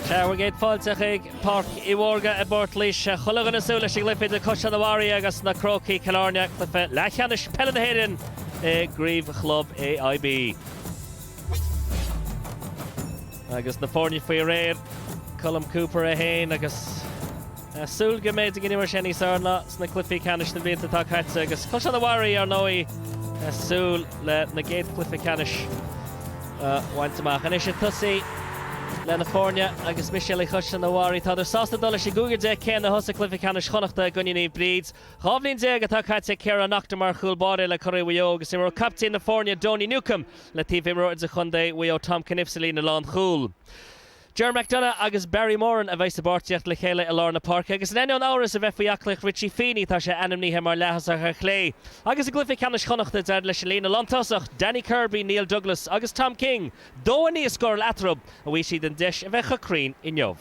Bhur gcéad fáilte chuig Páirc Uí Mhórdha i bPort Laoise. Chuile dhuine ag súil leis an gcluiche idir Caisleán an Bharraigh agus na Crócaigh, Cill Airne, cluiche leathcheannais peile na hÉireann i gcraobh chlub AIB. Agus na foirne faoi réir Colm Cooper é féin agus Súil go mbeidh daoine mar sin níos fearr ná sna cluichí ceannais sna blianta atá caite agus Caisleán an Bharraigh, ar ndóigh, ag súil lena gcéad chluiche ceannais a bhaint amach. Anois ag tosaí leis na foirne agus Mistéalaigh Chaisleán an Bharraigh, tádar sásta dul leis an gcúigear déag céanna a thosaigh Cluiche Ceannais Chonnachta i gcoinne Naomh Bríd. Dhá bhliain déag atá caite ag Ciarán Naughton mar chúl báire le curaidh Mhaigh Eo agus imreoidh caiptín na foirne Donie Newcombe le taobh imreoir idirchontae Mhaigh Eo Tom Cunniffe sa líne lánchúil. Ger McDonagh agus Barry Moran a bheas i bpáirtíocht le chéile i lár na páirce agus in ainneoin amhras a bheith faoi aclaíocht Richie Feeney, tá sé ainmnithe mar leaththosach ar chlé agus i gcluiche ceannais Chonnachta d'éirigh leis an líne lántosach, Danny Kirby, Neil Douglas agus Tom King, dó a naoi a scóráil eatarthu, an bhfaighidh siad an deis a bheith chomh cruinn inniu.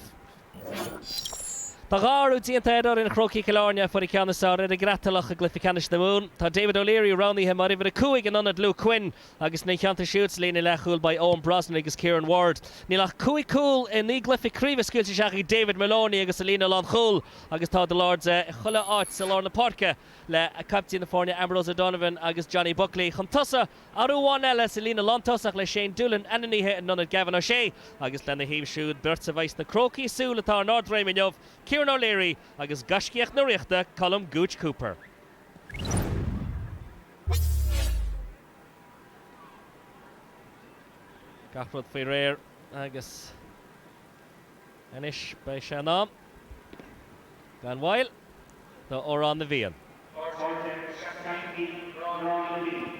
Tá dhá athrú déanta ar fhoireann Chrócaigh Chill Airne a fuair an ceann is fearr ar an gCreatalach i gcluiche ceannais na Mumhan. Tá David O'Leary roghnaithe mar uimhir a cúig in ionad Luke Quinn Agus ina theannta siúd, sa líne leathchúil, beidh Eoin Brosnan agus Kieran Ward. Níl ach cúig chúl i naoi gcluiche craoibhe scaoilte isteach ag David Moloney agus a líne lánchúil agus tá de l'aird chuile áit sa lár na páirce le caiptín na foirne Ambrose O'Donovan agus Johnny Buckley. Chun tosaigh, athrú amháin eile, sa líne lántosach le Shane Doolan ainmnithe in ionad Gavin O'Shea agus lena thaobh siúd beirt a bheas na Crócaigh ag súil atá in ardréim inniu, Kieran O'Leary agus gaiscíoch na Ríochta, Colm Gooch Cooper. Gach rud faoi réir agus anois beidh sé in am gan mhoill do Amhrán na bhFiann. Arsáilte seachtainí Amhrán na bhFiann.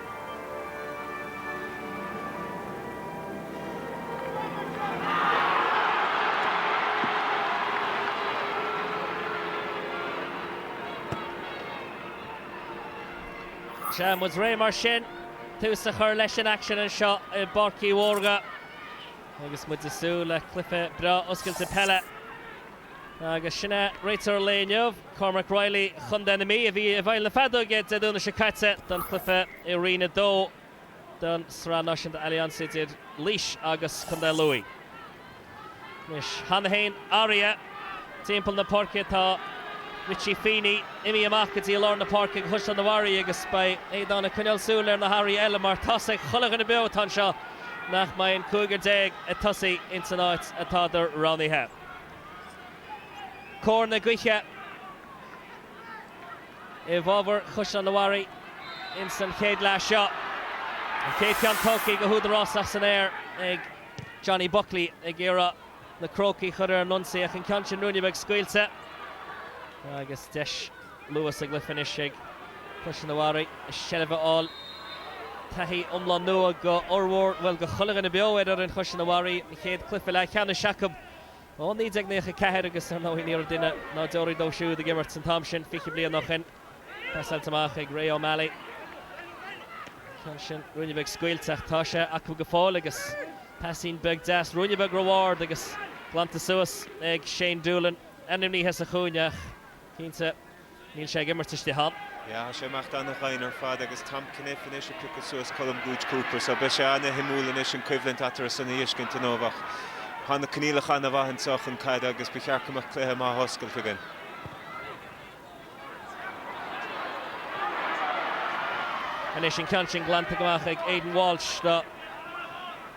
Tá muid réidh mar sin tús a chur leis an aicsean anseo i bPáirc Uí Mhórdha agus muid ag súil le cluiche breá oscailte peile agus sin é Réiteoir an lae inniu, Cormac Reilly, Contae na Mí, a bhí i bhfeighil na feadóige Dé Domhnaigh seo caite don chluife i Roinn 2 den Sraith Náisiúnta Allianz idir Laois agus Contae Lú. Anois cheana féin, athruithe, timpeall na páirce, tá Richie Feeney imithe amach go dtí lár na páirce do Chaisleán an Bharraigh agus beidh Aodán ag coinneáil súil ar na hathruithe eile mar tá a fhios ag chuile dhuine beo atá anseo nach mbeidh an cúigear déag ag tosaí ins an áit atádar roghnaithe. Cóir na gaoithe i bhfábhar Chaisleán an Bharraigh ins an chéad leath seo. An chéad ceann tógtha go húdarásach san aer ag Johnny Buckley ag iarraidh na Crócaigh a chur ar an ionsaí ach an ceann sin ruainne beag scaoilte agus deis luath sa gcluiche anois ag Caisleán an Bharraigh seilbh a fháil. Taithí iomlán nua go fhormhór, bhuel go chuile dhuine beo ar fhoireann Chaisleán an Bharraigh, an chéad cluiche leathcheannais acu. Ó 1994 agus, ar ndóigh, ní raibh duine ná deoraí dóibh siúd ag imirt an t-am sin fiche bliain ó shin. Pasáilte amach ag Ray O'Malley. Ceann sin ruainne beag scaoilte ach tá sé acu go fóill agus paisín beag deas ruainne beag ró-ard agus glanta suas ag Shane Doolan, ainmnithe sa chúinne ach, cinnte, Níl sé ag imirt istigh ann. Yeah, tá sé ag imeacht ana-dhoimhin ar fad agus Tom Cuniffe anois ag piocadh suas Colm Gooch Cooper so beidh sé an-shuimiúil anois an coimhlint eatarthu san a fheiscint inniu ach tá na coinníollacha an-mhaith anso chun caide agus ba cheart go mbeadh cluiche maith oscailte againn. Anois an ceann sin glanta amach ag Aidan Walsh do.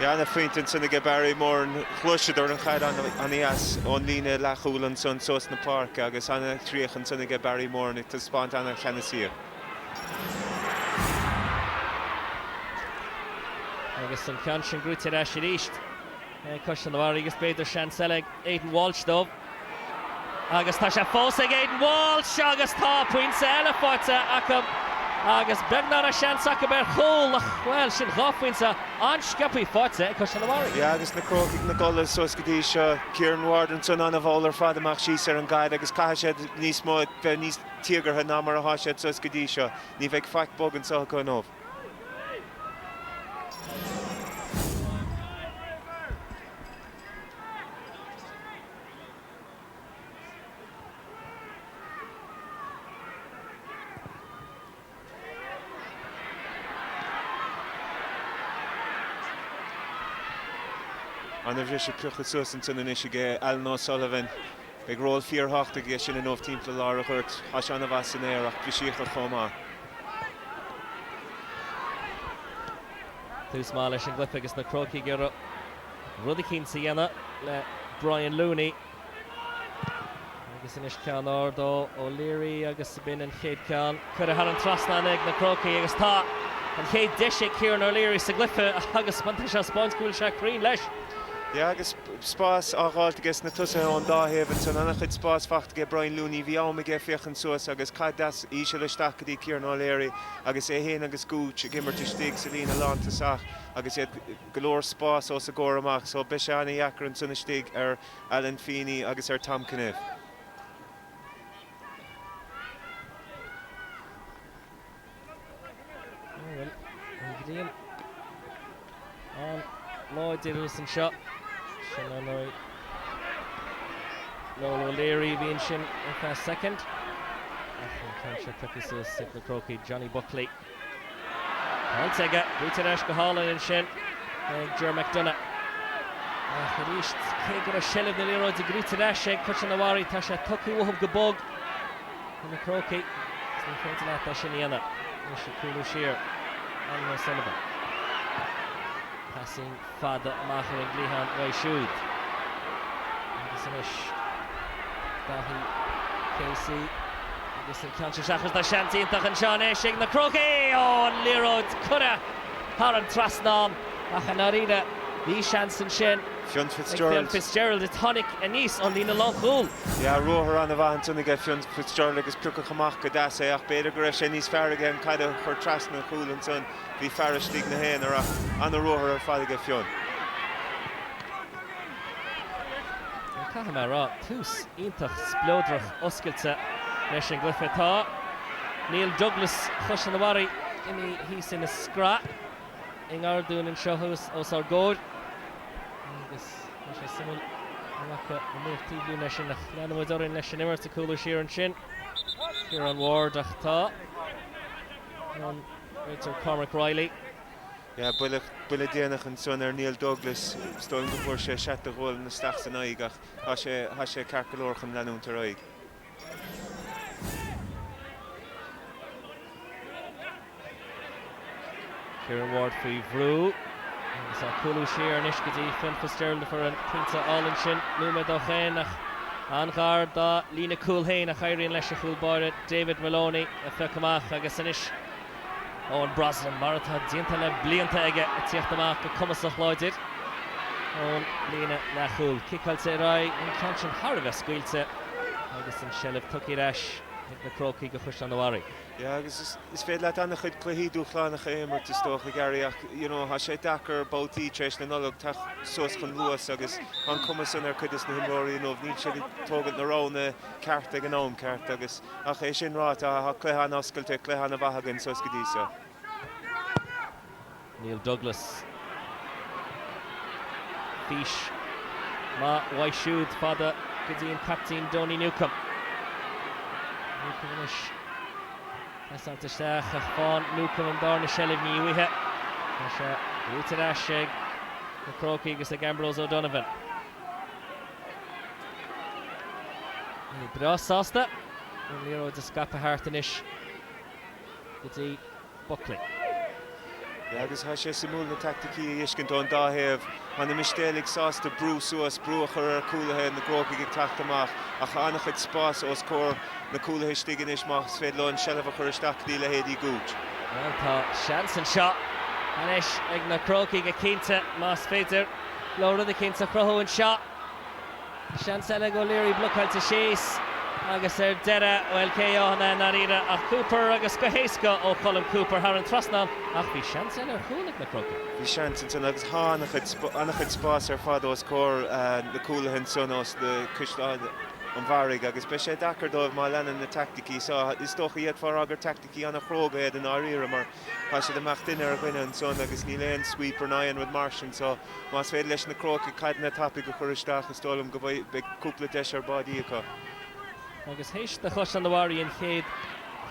Ana-phointe ansan aige Barry Moran, ghluaiseadar an chaid ana-dheas ón líne leathchúil ansan suas na páirce agus ana-chríoch ansan aige Barry Moran ag taispeáint ana-cheannasaíocht. Agus an ceann sin gnóite ar ais arís ag Caisleán an Bharraigh agus b'fhéidir seans eile ag Aidan Walsh dóibh. Agus tá sé fós ag Aidan Walsh agus tá pointe eile faighte acu agus beagnach seans acu ar chúl ach, bhuel, sin dhá phointe an-sciobthaí faighte ag Caisleán an Bharraigh. Yeah agus na Crócaigh ina gcodladh suas go dtí seo. Kieran Ward ansan ana-mhall ar fad ag imeacht síos ar an gcaid agus caithfidh siad níos mó, bheith níos tíogartha ná mar atá siad suas go dtí seo. Ní bheidh faic bog anso acu inniu. An bhris pioctha suas ansan anois aige Alan O'Sullivan. Beidh ról fíorthábhachtach aige sin inniu timpeall lár an ghoirt. Tá sé an-mhaith san aer ach brisíodh ar chomh maith. Tús maith leis an gcluiche agus na Crócaigh ag iarraidh. rud eicínt a dhéanamh le Brian Looney agus anois ceann ard ó O'Leary agus b'in an chéad ceann curtha thar an trasnán ag na Crócaigh agus tá an chéad deis ag Kieran O'Leary sa gcluiche agus má tá sé ag spáint go bhfuil sé cruinn leis. Yeah agus spás á fháilt aiges na tosaithe ón dá thaobh ansan, an-chuid spáis fachta aige Brian Looney, bhí am aige féachaint suas agus caid deas íseal isteach go dtí Kieran O'Leary agus é fhéin agus Gooch ag imirt istigh sa líne lántosach agus iad go leor spás os a gcomhair amach, so beidh sé an-dheacair ansan istigh ar Alan Feeney agus ar Tom Cunniff. Ó bhuel, an ghrian an-láidir thíos anseo. Sin an Earl Noel O'Leary a bhí ansin ar feadh soicind, ach an ceann seo tiocfaidh suas ag na Crócaigh, Johnny Buckley. Pointe aige, buaite ar ais go hálainn ansin ag Ger McDonagh. Ach arís, cé go raibh seilbh na liathróide gnóite ar ais ag Caisleán a' Bharraigh, tá sé tugtha uathu go bog do na Crócaigh agus ní féidir leat é sin a dhéanamh leis an gcúlú siar, Alan O'Sullivan. Passing. fada amach ar an gcliathán uaidh siúd agus anois Daithí Casey agus an ceann seo seachas tá seans iontach anseo anois ag na Crócaigh ó an liathróid curtha thar an trasnán ach i ndáiríre bhí seans ansin ag Fionn Fitzgerald. Fitzgerald a tháinig aníos ón líne lánchúil. Yeah, ruathar an-mhaith ansin ag Fionn Fitzgerald agus piocadh amach go deas é ach b'fhéidir go raibh sé níos fearr aige an caid a chur trasna an chúil ansan. Bhí fear istigh ina aonar ana ruathar ar fad aige Fionn. Caithfidh mé a rá, tús iontach spleodrach oscailte leis an gcluiche atá. Neil Douglas Chaisleán a' Bharraigh imithe thíos ina scraiste i ngar dúinn anseo thuas os ár gcomhair agus tá sé suimiúil an bhfaca muid aon bhuille ansin ach leanann muid orainn leis an imirt ag cúlú siar ansin Ciaran Ward ach tá an Réiteoir Cormac Reilly. Yeah, buille, buille déanach ansan ar Neil Douglas. Is dóigh liom go bhfuair sé seat de ghualainn isteach san aghaidh ach tá sé, tá sé ceart go leor chun leanúint ar aghaidh. Kieran Ward faoi bhrú. Agus ag cúlú siar anois go dtí Fionn Fitzgerald a fuair an pointe álainn sin nóiméad ó shin ach an-ghar dá líne cúil féin ach éiríonn leis a chúl báire David Maloney a phiocadh amach agus anois Eoin Brosnan, mar atá déanta le blianta aige, ag tíocht amach go cumasach láidir ón líne leathchúil. Ciceáilte ar aghaidh, an ceann sin thar a bheith scaoilte agus an tseilbh tugtha ar ais ag na Crócaigh go Chaisleán a' Bharraigh. Yeah agus is féidir leat an-chuid cluichí dúshlánacha a imirt is dócha, Gary, ach you know tá sé deacair babhtaí tar éis na Nollag teacht suas chun luas agus an cumas san ar chuid dos na himreoirí, you know níl siad ag tógaint na roghanna, ceart ag an am ceart agus ach é sin ráite tá cluiche an-oscailte, cluiche an-mhaith againn suas go dtí seo. Neil Douglas. Fís maith uaidh siúd fada go dtí an captaen Donie Newcombe. Newcombe anois pasáilte isteach ach faigheann Newcombe an darna seilbh ní uaithe. Tá sé buaite ar ais ag na Crócaigh agus ag Ambrose O'Donovan. Breá sásta an liathróid a scaipeadh thart anois go dtí Buckley. Yeah, agus tá sé suimiúil na tacticí a fheiscint ón dá thaobh. Tá na Mistéalaigh sásta brú suas, brú a chur ar cúlaithe na gCrócaigh ag teacht amach ach tá an-chuid spáis os comhair na cúlaithe istigh anois más féidir leo an tseilbh a chur isteach go dtí leithéidí Gooch. Bhuel, tá seans anseo anois ag na Crócaigh cinnte más féidir. Leo rud eicínt a chruthú anseo. Seans eile ag O'Leary blocáilte síos agus ar deireadh, bhuel, cé atá ann i ndáiríre ach Cooper agus go héasca ó Cholm Cooper thar an trasnán ach bhí seans eile ar chúl ag na Crócaigh. Bhí seans ansin agus tá an-chuid spáis ar fad os comhair na cúlaithe ansin ós na Caisleán an Bharraigh agus beidh sé deacair dóibh má leanann na teaicticí seo. Is dócha, fhéadfá a rá, gur. cí ana chróga iad i ndáiríre mar tá siad amach duine ar dhuine ansan agus níl aon sweeper ná aon rud mar sin so más féidir leis na Crócaigh caideanna tapaidh a chur isteach is dóigh liom go bhfuil, beidh cúpla deis ar báidí acu. Agus théis do Chaisleán an Bharraigh an chéad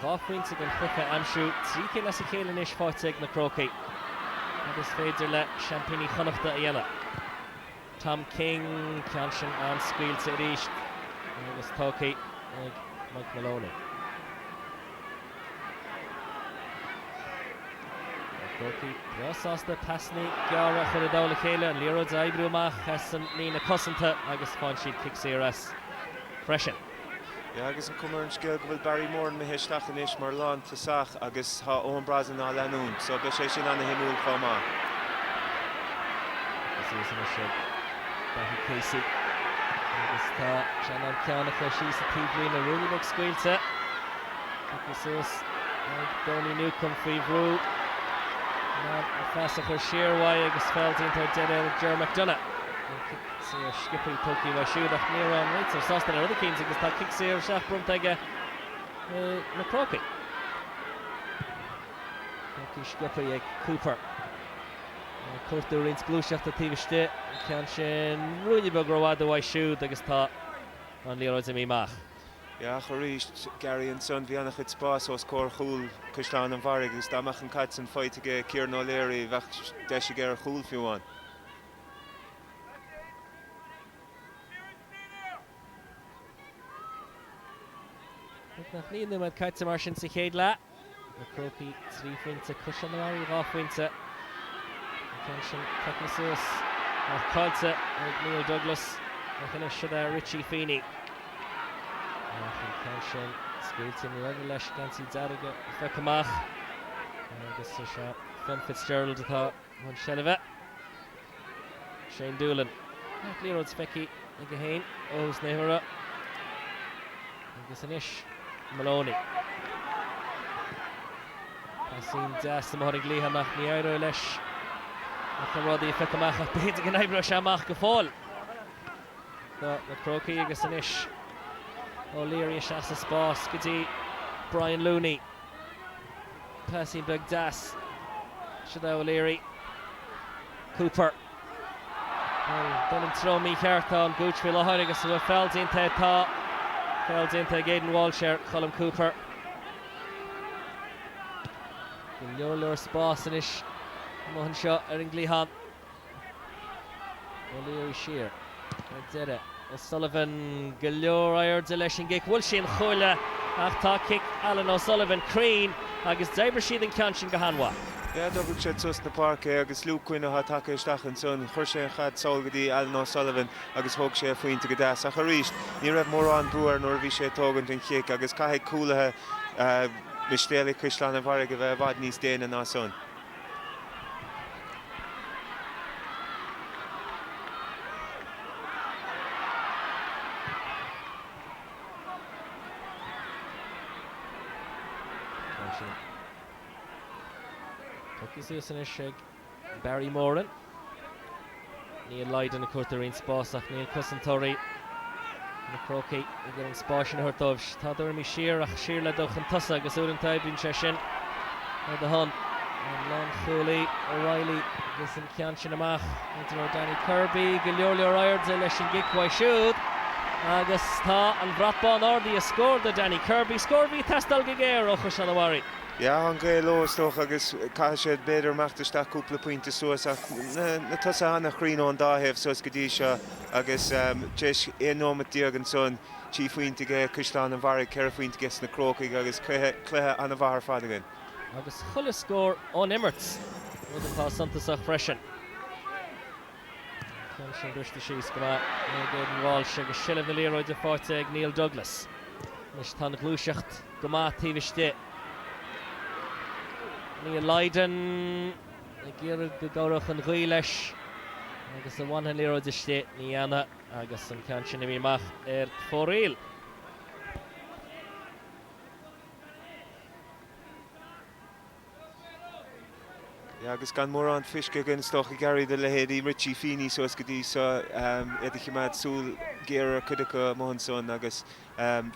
dhá phointe den chluiche a aimsiú, trí cinn as a chéile anois faighte ag na Crócaigh, cad is féidir le seaimpíní Chonnachta a dhéanamh? Tom King, ceann sin an-scaoilte arís agus tógtha ag Mike Maloney. Na Crócaigh breá sásta pasannaí gearra a chur i dtoll a chéile, an liathróid a oibriú amach as an líne cosanta agus faigheann siad cic saor as freisin. Yeah agus an cuma ar an scéal go bhfuil Barry Moran imithe isteach anois mar lán tosach agus tá Eoin Brosnan á leanúint so beidh sé sin an-shuimiúil chomh maith. Tógtha suas anois ag Dáithí Casey agus tá sé in ann an ceann a chur síos sa taobh líne. Ruainne beag scaoilte tógtha suas ag Donie Newcombe faoi bhrú in ann an pas a chur siar uaidh agus feall déanta ar deireadh ag Ger McDonagh. Saor sciopthaí tógtha uaidh siúd ach ní raibh an réiteoir sásta le rud eicínt agus tá cic saor isteach bronnta aige ar na Crócaigh. Tógtha sciopthaí ag Cooper. Ag cuartú roinnt gluaiseachta taobh istigh. An ceann sin ruainne beag rófhada uaidh siúd agus tá an liathróid imithe amach. Ach arís, Gary ansan, bhí an-chuid spáis os comhair chúl Chaisleán an Bharraigh agus dá mbeadh an caid san faighte aige, Kieran O'Leary, bheadh deis aige ar chúl fiú amháin. Nach naoi nóiméad caite mar sin sa chéad leath. Na Crócaigh trí phointe, Caisleán an Bharraigh dhá phointe. An ceann sin tugtha suas ach caillte ag Neil Douglas ach anois seo é Richie Feeney. An ceann sin scaoilte i dtreo leis geansaí dearga ag briseadh amach agus is é Fionn Fitzgerald atá i mbun seilbhe, Shane Doolan. An liathróid feicthe aige féin ar nós na haoire agus anois Moloney. Pasín deas i mbun gluaiseachta amach, ní éireoidh leis ach an rud í a phiocadh amach ach b'fhéidir go n-oibreoidh sé amach go fóill do na Crócaigh agus anois O'Leary isteach sa spás go dtí Brian Looney. Pasín beag deas. Seo é O'Leary. Cooper. Dul sa treo mícheart tá an Gooch faoi láthair agus an bhfuil feall déanta air? Tá feall déanta ag Aidan Walsh ar Colm Cooper. Go leor leor spáis anois amuigh anseo ar an gcliathán. O'Leary siar ar deireadh. O'Sullivan go leor airde leis an gcic. An bhfuil sé cruinn ó tá cic Alan O'Sullivan cruinn agus d'oibrigh siad an ceann sin go han-mhaith. Sea d'oibrigh siad suas na páirce é agus Luke Quinn atá tagtha isteach ansan, chuir sé an chaid sall go dtí Alan O'Sullivan agus thóg sé a phointe go deas. Ach arís, ní raibh mórán brú air nuair a bhí sé ag tógaint an chic agus caithfidh cúlaithe Mistéalaigh Chaisleán an Bharraigh a bheith i bhfad níos déine ná san. Tugtha suas anois ag Barry Moran. Neil Lydon ag cuartú roinnt spás ach níl cosantóirí na gCrócach ag iarraidh an spás sin a thabhairt dóibh. Tá dul orthu siar ach siar le dul chun tosaigh agus uaireanta oibríonn sé sin ar do shon. An lánchúlaí O'Reilly agus an ceann sin amach i dtreo Danny Kirby, go leor leor airde leis an gcic uaidh siúd agus tá an brat bán ardaithe. Scór do Danny Kirby. Scór a bhí ag teastáil go géar ó Chaisleán an Bharraigh. Sea an ghaoth leo is dócha agus caithfidh siad b'fhéidir imeacht isteach cúpla pointe suas ach na tosaithe an-chruinn ón dá thaobh suas go dtí seo agus tréis 11 nóimeat ansan trí phointe aige Caisleán an Bharraigh, ceithre phointe aige sna Crócaigh agus cluiche an-mhaith ar fad againn. agus chuile scór ón imirt, rud atá suntasach freisin. Ceann sin briste síos go maith ag Aidan Walsh agus seilbh na liathróide faighte ag Neil Douglas. Anois tá an ghluaiseacht go maith taobh istigh. Neil Lydon ag iarraidh go gcabhródh an ghaoth leis agus an bhfanfaidh an liathróid istigh. Ní dhéanfaidh agus an ceann sin imithe amach ar fóraoil. Yeah agus gan mórán feiscthe againn is dócha ag éirí do leithéidí Richie Feeney suas go dtí seo iad ag cimeád súil ghéar ar cuid acu amuigh ansan agus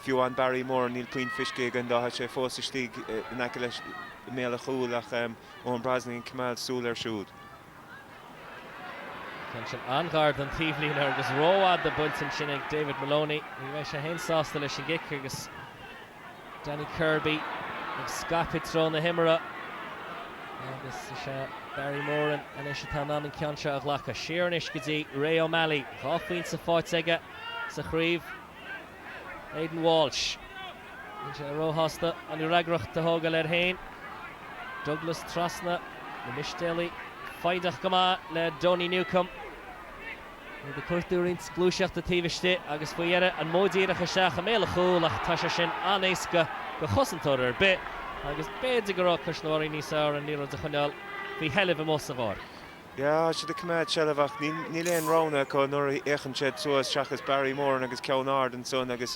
fiú amháin Barry Moran níl puinn feiscthe againn dó, tá sé fós istigh in aice leis i mbéal an chúil ach Eoin Brosnan ag cimeád súil air siúd. Ceann sin an-ghar don taobhlíne agus rófhada buailte ansin ag David Moloney. Ní bheidh sé féin sásta leis an gcic agus Danny Kirby ag scaipeadh i dtreo na himeartha. Agus is é Barry Moran anois atá in ann an ceann seo a ghlacadh. Siar anois go dtí Ray O'Malley. Dhá phointe faighte aige sa chraobh. Aidan Walsh. Níl sé róshásta an fhreagracht a thógáil air féin. Douglas trasna. Na Mistéalaigh foighdeach go maith le Donie Newcombe. Iad ag cuartú roinnt gluaiseachta taobh istigh agus faoi dheireadh an modh díreach isteach i mbéal an chúil ach tá sé sin an-éasca go chosantóir ar bith agus b'fhéidir go raibh Caisleán an Bharraigh níos fearr an liathróid a choinneáil faoi sheilbh amuigh sa bpáirc. Yeah, siad ag coimeád seilbh ach níl aon roghanna acu nuair a fhéachann siad suas seachas Barry Moran agus ceann ard ansan agus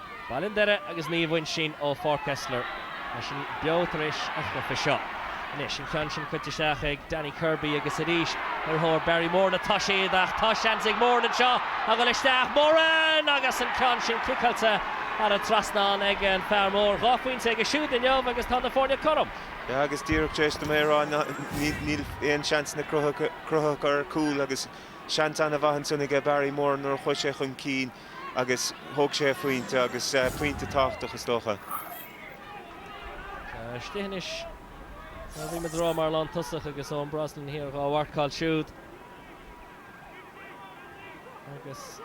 Baile an Doire agus Naomh Uinsinn ó Pháirc Esler. Tá sin beo tar éis an chluiche seo. Anois an ceann sin caite isteach ag Danny Kirby agus arís ar thóir Barry Moran atá siad ach tá seans ag Moran anseo a dhul isteach. Moran! Agus an ceann sin ciceáilte thar an trasnán ag an fear mór. Dhá phointe aige siúd inniu agus tá na foirne cothrom. Agus díreach tar éis dom é a rá níl aon seansanna cruthaithe acu ar chúl agus seans an-mhaith ansan aige Barry Moran nuair a chuaigh sé chun cinn. agus thóg sé a phointe, agus pointe tábhachtach is dócha. Istigh anois. Bhuel, bhí muid a rá mar lántosach agus Eoin Brosnan thiar dhá mharcáil siúd. Agus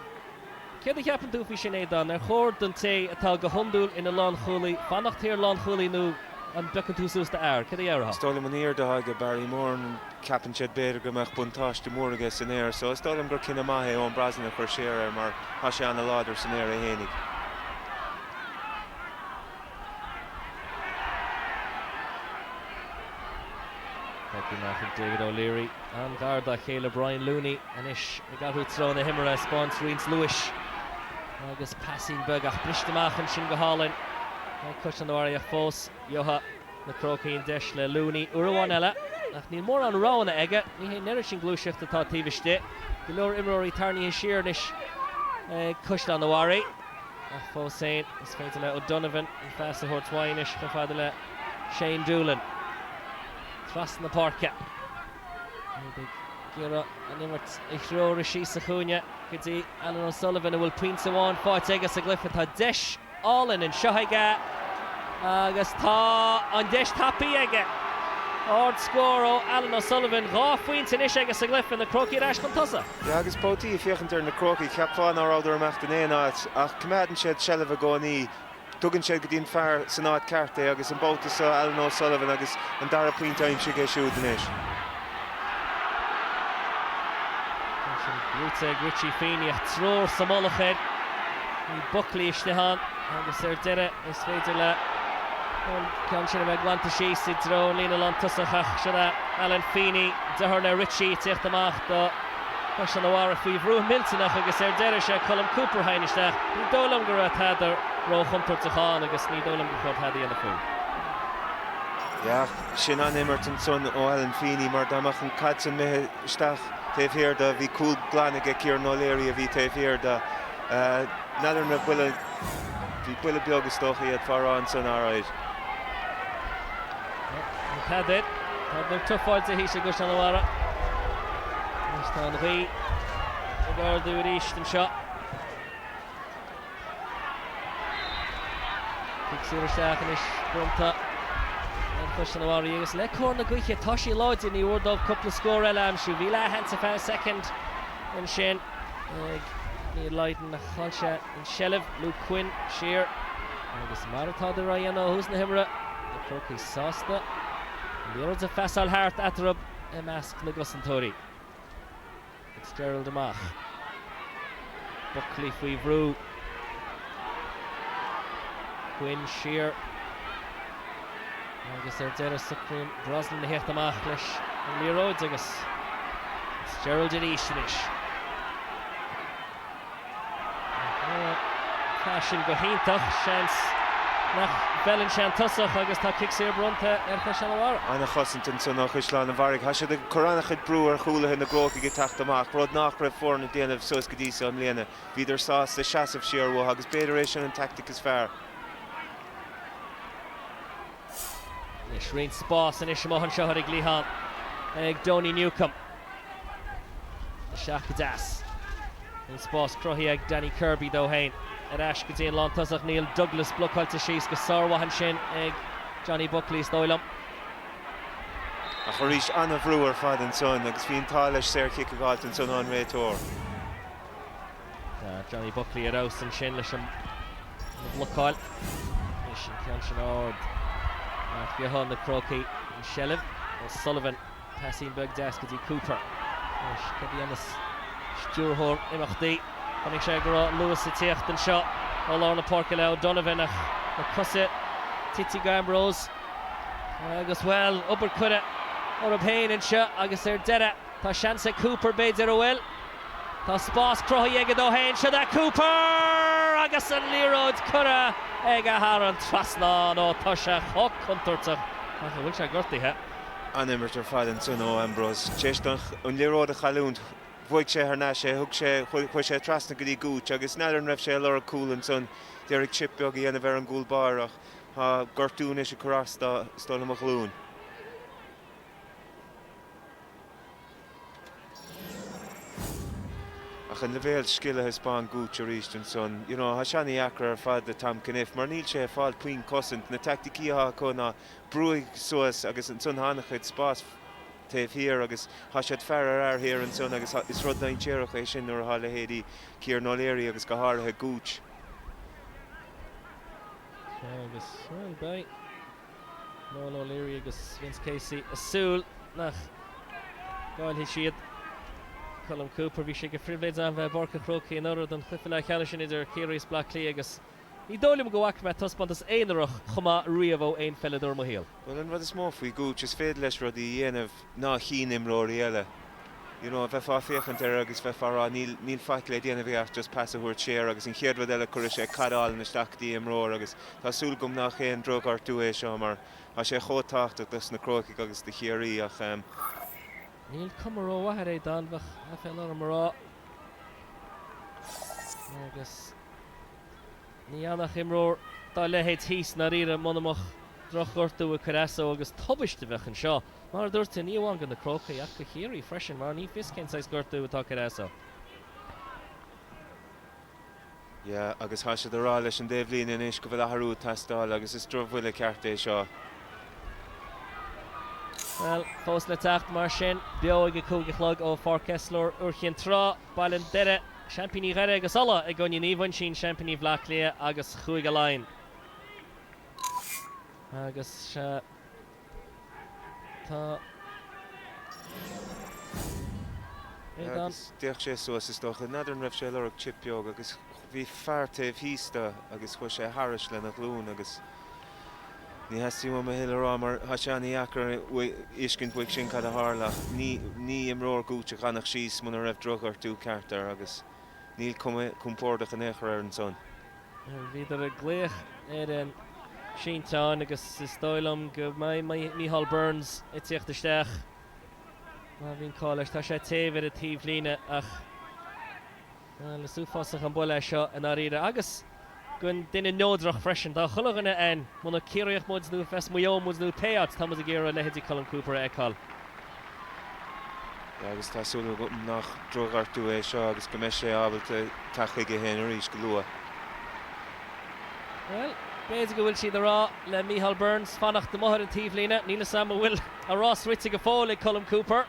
céard a cheapann tú faoi sin, Aodán? Ar chóir don té atá go hiondúil ina lánchúlaí fanacht thiar lánchúlaí nó an bpiocann tú suas d'fhear? Cad a dhéarfá? Is dóigh liom an aoirde atá aige Barry Moran. Ceapann siad b'fhéidir go mbeadh buntáiste mór aige san aer so is dóigh liom gur cinneadh maith é Eoin Brosnan a chur siar air mar tá sé an-láidir san aer é fhéinig. David O'Leary, an-ghar dá chéile Brian Looney anois ag athrú treo na himeartha, spáint roinnt luais agus pasín beag ach briste amach ansin go hálainn. Beidh Caisleán an Bharraigh fós, Juha. na Crócaigh deis le Looney uair amháin eile ach níl mórán roghanna aige. Ní hé an oiread sin gluaiseachta atá taobh istigh, go leor imreoirí tarraingthe siar anois ag Caisleán a'Bharraigh ach fós féin is féidir le O'Donovan an phas a thabhairt uaidh anois chomh fada le Shane Doolan trasna na páirce. Iad ag iarraidh an imirt a threorú síos sa chúinne go dtí Alan O'Sullivan a bhfuil pointe amháin faighte aige sa gcluiche. Tá deis. álainn anseo aige agus tá an deis tapaithe aige. Ard scór ó Alan O'Sullivan. Dhá phointe anois aige sa gcluiche. Na Crócaigh ar ais chun tosaigh. Sea agus babhtaí ag féachaint ar na Crócaigh, cheapfá ná rabhadar ag imeacht in aon áit ach coimeádann siad seilbh i gcónaí. Tugann siad go dtí an fear san áit ceart é agus an babhta seo Alan O'Sullivan agus an dara pointe aimsithe aige siúd anois. Ansin brúite ag Richie Feeney, triúr sa mullach air. Bhí Buckley istigh ann agus ar deireadh is féidir le an ceann sin a bheith glanta síos i dtreo an líne lántosach ach sin é Alan Feeney, deartháir le Richie, ag teacht amach do Chaisleán an Bharraigh faoi bhrú millteanach agus ar deireadh is é Colm Cooper a tháinig isteach. Ní dóigh liom go raibh tada róchontúirteach ann agus ní dóigh liom gur chóir tada a dhéanamh faoi. Sin an-imirt ansan ó Alan Feeney mar dá mbeadh an caid san imithe isteach taobh thiar de, bhí cúl glan aige, Kieran O'Leary a bhí taobh thiar de. N'fheadar an raibh buille, bhí buille beag is dócha iad fá rá ansan arair. Tá Peadar, Peadar ag tufáil de thíos ag Caisleán an Bharraigh. Anois tá an ghaoth ag ardú aríst anseo. Cic saor isteach anois bronnta ar Chaisleán an Bharraigh agus le cóir na gaoithe tá sí láidir, ní mhór dóibh cúpla scór eile a aimsiú. Bhí leathshans ar feadh soicind ansin ag Neil Lydon ach chaill sé an tseilbh. Luke Quinn siar agus mar atádar á dhéanamh ó thús na himeartha, na Crócaigh sásta an liathróid a phasáil thart eatarthu i measc na gcosantóirí. Fitzgerald amach. Buckley faoi bhrú. Quinn siar. Agus ar deireadh socraíonn Brosnan a theacht amach leis an liathróid agus Fitzgerald arís anois. Chaith sin go hiontach. Seans nach bhfeileann sé an tosach agus tá cic saor bronnta ar Chaisleán an Bharraigh. Ana chosaint ansan ó Chaisleán an Bharraigh. Tá siad ag cur ana chuid brú ar chúlaithe na gCrócaigh ag teacht amach, rud nách raibh foirne ag déanamh suas go dtí seo i mbliana. Bhíodar sásta seasamh siar uatha agus b'fhéidir é sin an taictic is fearr. Anois roinnt spás anois amuigh anseo ar an gcliathán ag Donie Newcombe. Isteach go deas. An spás cruthaithe ag Danny Kirby dó féin. Ar ais go dtí an lántosach, Neil Douglas blocáilte síos go sármhaith ansin ag Johnny Buckley, is dóigh liom. Ach arís, an-bhrú ar fad ansan agus bhí an t-ádh leis saor-chic a dh'fháilt ansan ón réiteoir. Johnny Buckley ar fheabhas ansin leis an mblocáil. Anois an ceann sin ard. Ach faigheann na Crócaigh an seilbh. O'Sullivan Paisín beag deas go dtí Cooper. Anois cad a dhéanfas stiúrthóir imeachtaí? Chonaic sé go raibh luas ag teacht anseo ó lár na páirce le O'Donovan ach na cosa tite ag Ambrose agus, bhuel, obair curtha orthu féin anseo agus ar deireadh tá seans ag Cooper, b'fhéidir, an bhfuil? Tá spás cruthaithe aige dó féin, seo é Cooper agus an liathróid curtha aige thar an trasnán. Ó tá sé chomh contúirteach ach an bhfuil sé gortaithe? an-imirt ar fad ansin ó Ambrose. Tar éis dó an liathróid a chailliúint, bhuaigh sé thar n-ais é, thug sé, chuaigh sé trasna go dtí Gooch agus n'fheadar an raibh sé a lorg cúl ansan, d'iarraidh chip beag a dhéanamh ar an gcúl báire ach tá gortú anois ag cur as do, is dóigh liom, a ghlúin. Ach an leibhéal scil a thaispeáin Gooch arís ansan, you know, tá sé ana-dheacair ar fad do Tom Cunniffe mar níl sé ag fáil puinn cosaint, na teaicticí atá acu ná brúigh suas agus ansan thá ana-chuid spás taobh thiar agus thá siad fear ar fhear thiar ansan agus is rud dainséarach é sin nuair athá leithéidí Kieran O'Leary agus go háirithe Gooch Agus bhuel, beidh Noel O'Leary agus Vince Casey a' súil nach gcáillfidh siad Colm Cooper. Bhí sé go phribhléid agam bheith i bPáirc an Chrócaigh anuraidh don chluiche leathcheannais sin idir Ciarraí is Bleá Cliath agus, Ní dóigh liom go bhfaca mé taispeántas aonarach chomh maith riamh ó aon pheileadóir i mo shaol. Bhuel, an rud is mó faoi Gooch, is féidir leis rudaí a dhéanamh ná chíonn imreoirí eile. You know, bheifeá ag féachaint air agus bheifeá ag rá, níl, níl faic le déanamh aige ach just pas a thabhairt siar agus an chéad rud eile cuirfidh sé caid álainn isteach go dtí imreoir agus tá súil agam nach aon drochghortú é seo mar tá sé chomh tábhachtach dos na Crócaigh agus do Chiarraí ach, ehm. Níl cuma rómhaith air, Aodán, bheadh aiféala orm a rá. Agus. Ní fhanfadh imreoir dá leithéid thíos i ndáiríre muna mbeadh drochghortú ag cur as dó agus tubaist a bheadh anseo, mar a dúirt tú, ní amháin go na Crócaigh ach go Chiarraí freisin mar ní fios cén saghas gortú atá ag cur as dó. Yeah, agus tá siad ag rá leis an dtaobhlíne anois go bhfuil athrú ag teastáil agus is drochbhuille ceart é seo. Bhuel, fós le teacht mar sin, beo ag a cúig a chlog ó Pháirc Esler, Iúr Chinn Trá. Baile an Doire, seaimpíní Dhoire agus Uladh, i gcoinne Naomh Uinsionn, seaimpíní Bhleá Cliath agus Chúige Laighean. Agus sea, tá. D'fhéach sé suas, is dócha. N'fheadar an raibh sé ag lorg chip beag agus. Bhí fear taobh thíos de agus chuaidh sé thairis lena ghlúin agus ní theastaigh uaim a thuilleadh a rá mar thá sé an-dheacair a fheiscint uaidh sin cad a tharla ach ní imreoir Gooch a d'fhanfadh síos muna raibh drochghortú ceart air agus níl cuma chompordach in aon chor air ansan. Bhíodar ag glaoch ar an sínteán agus is dóigh liom go mbeidh Micheál Burns ag tíocht isteach má bhíonn call leis. Tá sé taobh ar an taobhlíne ach. Bhuel, is uafásach an buille é seo i ndáiríre, agus don duine neodrach freisin. Do chuile dhuine ann, más Ciarraíoch muid, nó as Maigh Eo muid, nó pé áit, tá muid ag iarraidh leithéidí Colm Cooper a fheiceáil. Agus tá súil agam nach drochghortú é seo agus go mbeidh sé ábalta teacht chuige féin arís go luath. Bhuel, b'fhéidir go bhfuil siad a rá le Micheál Burns fanacht amuigh ar an taobhlíne. Níl 'fhios a'm an bhfuil a rás rite go fóill ag Colm Cooper.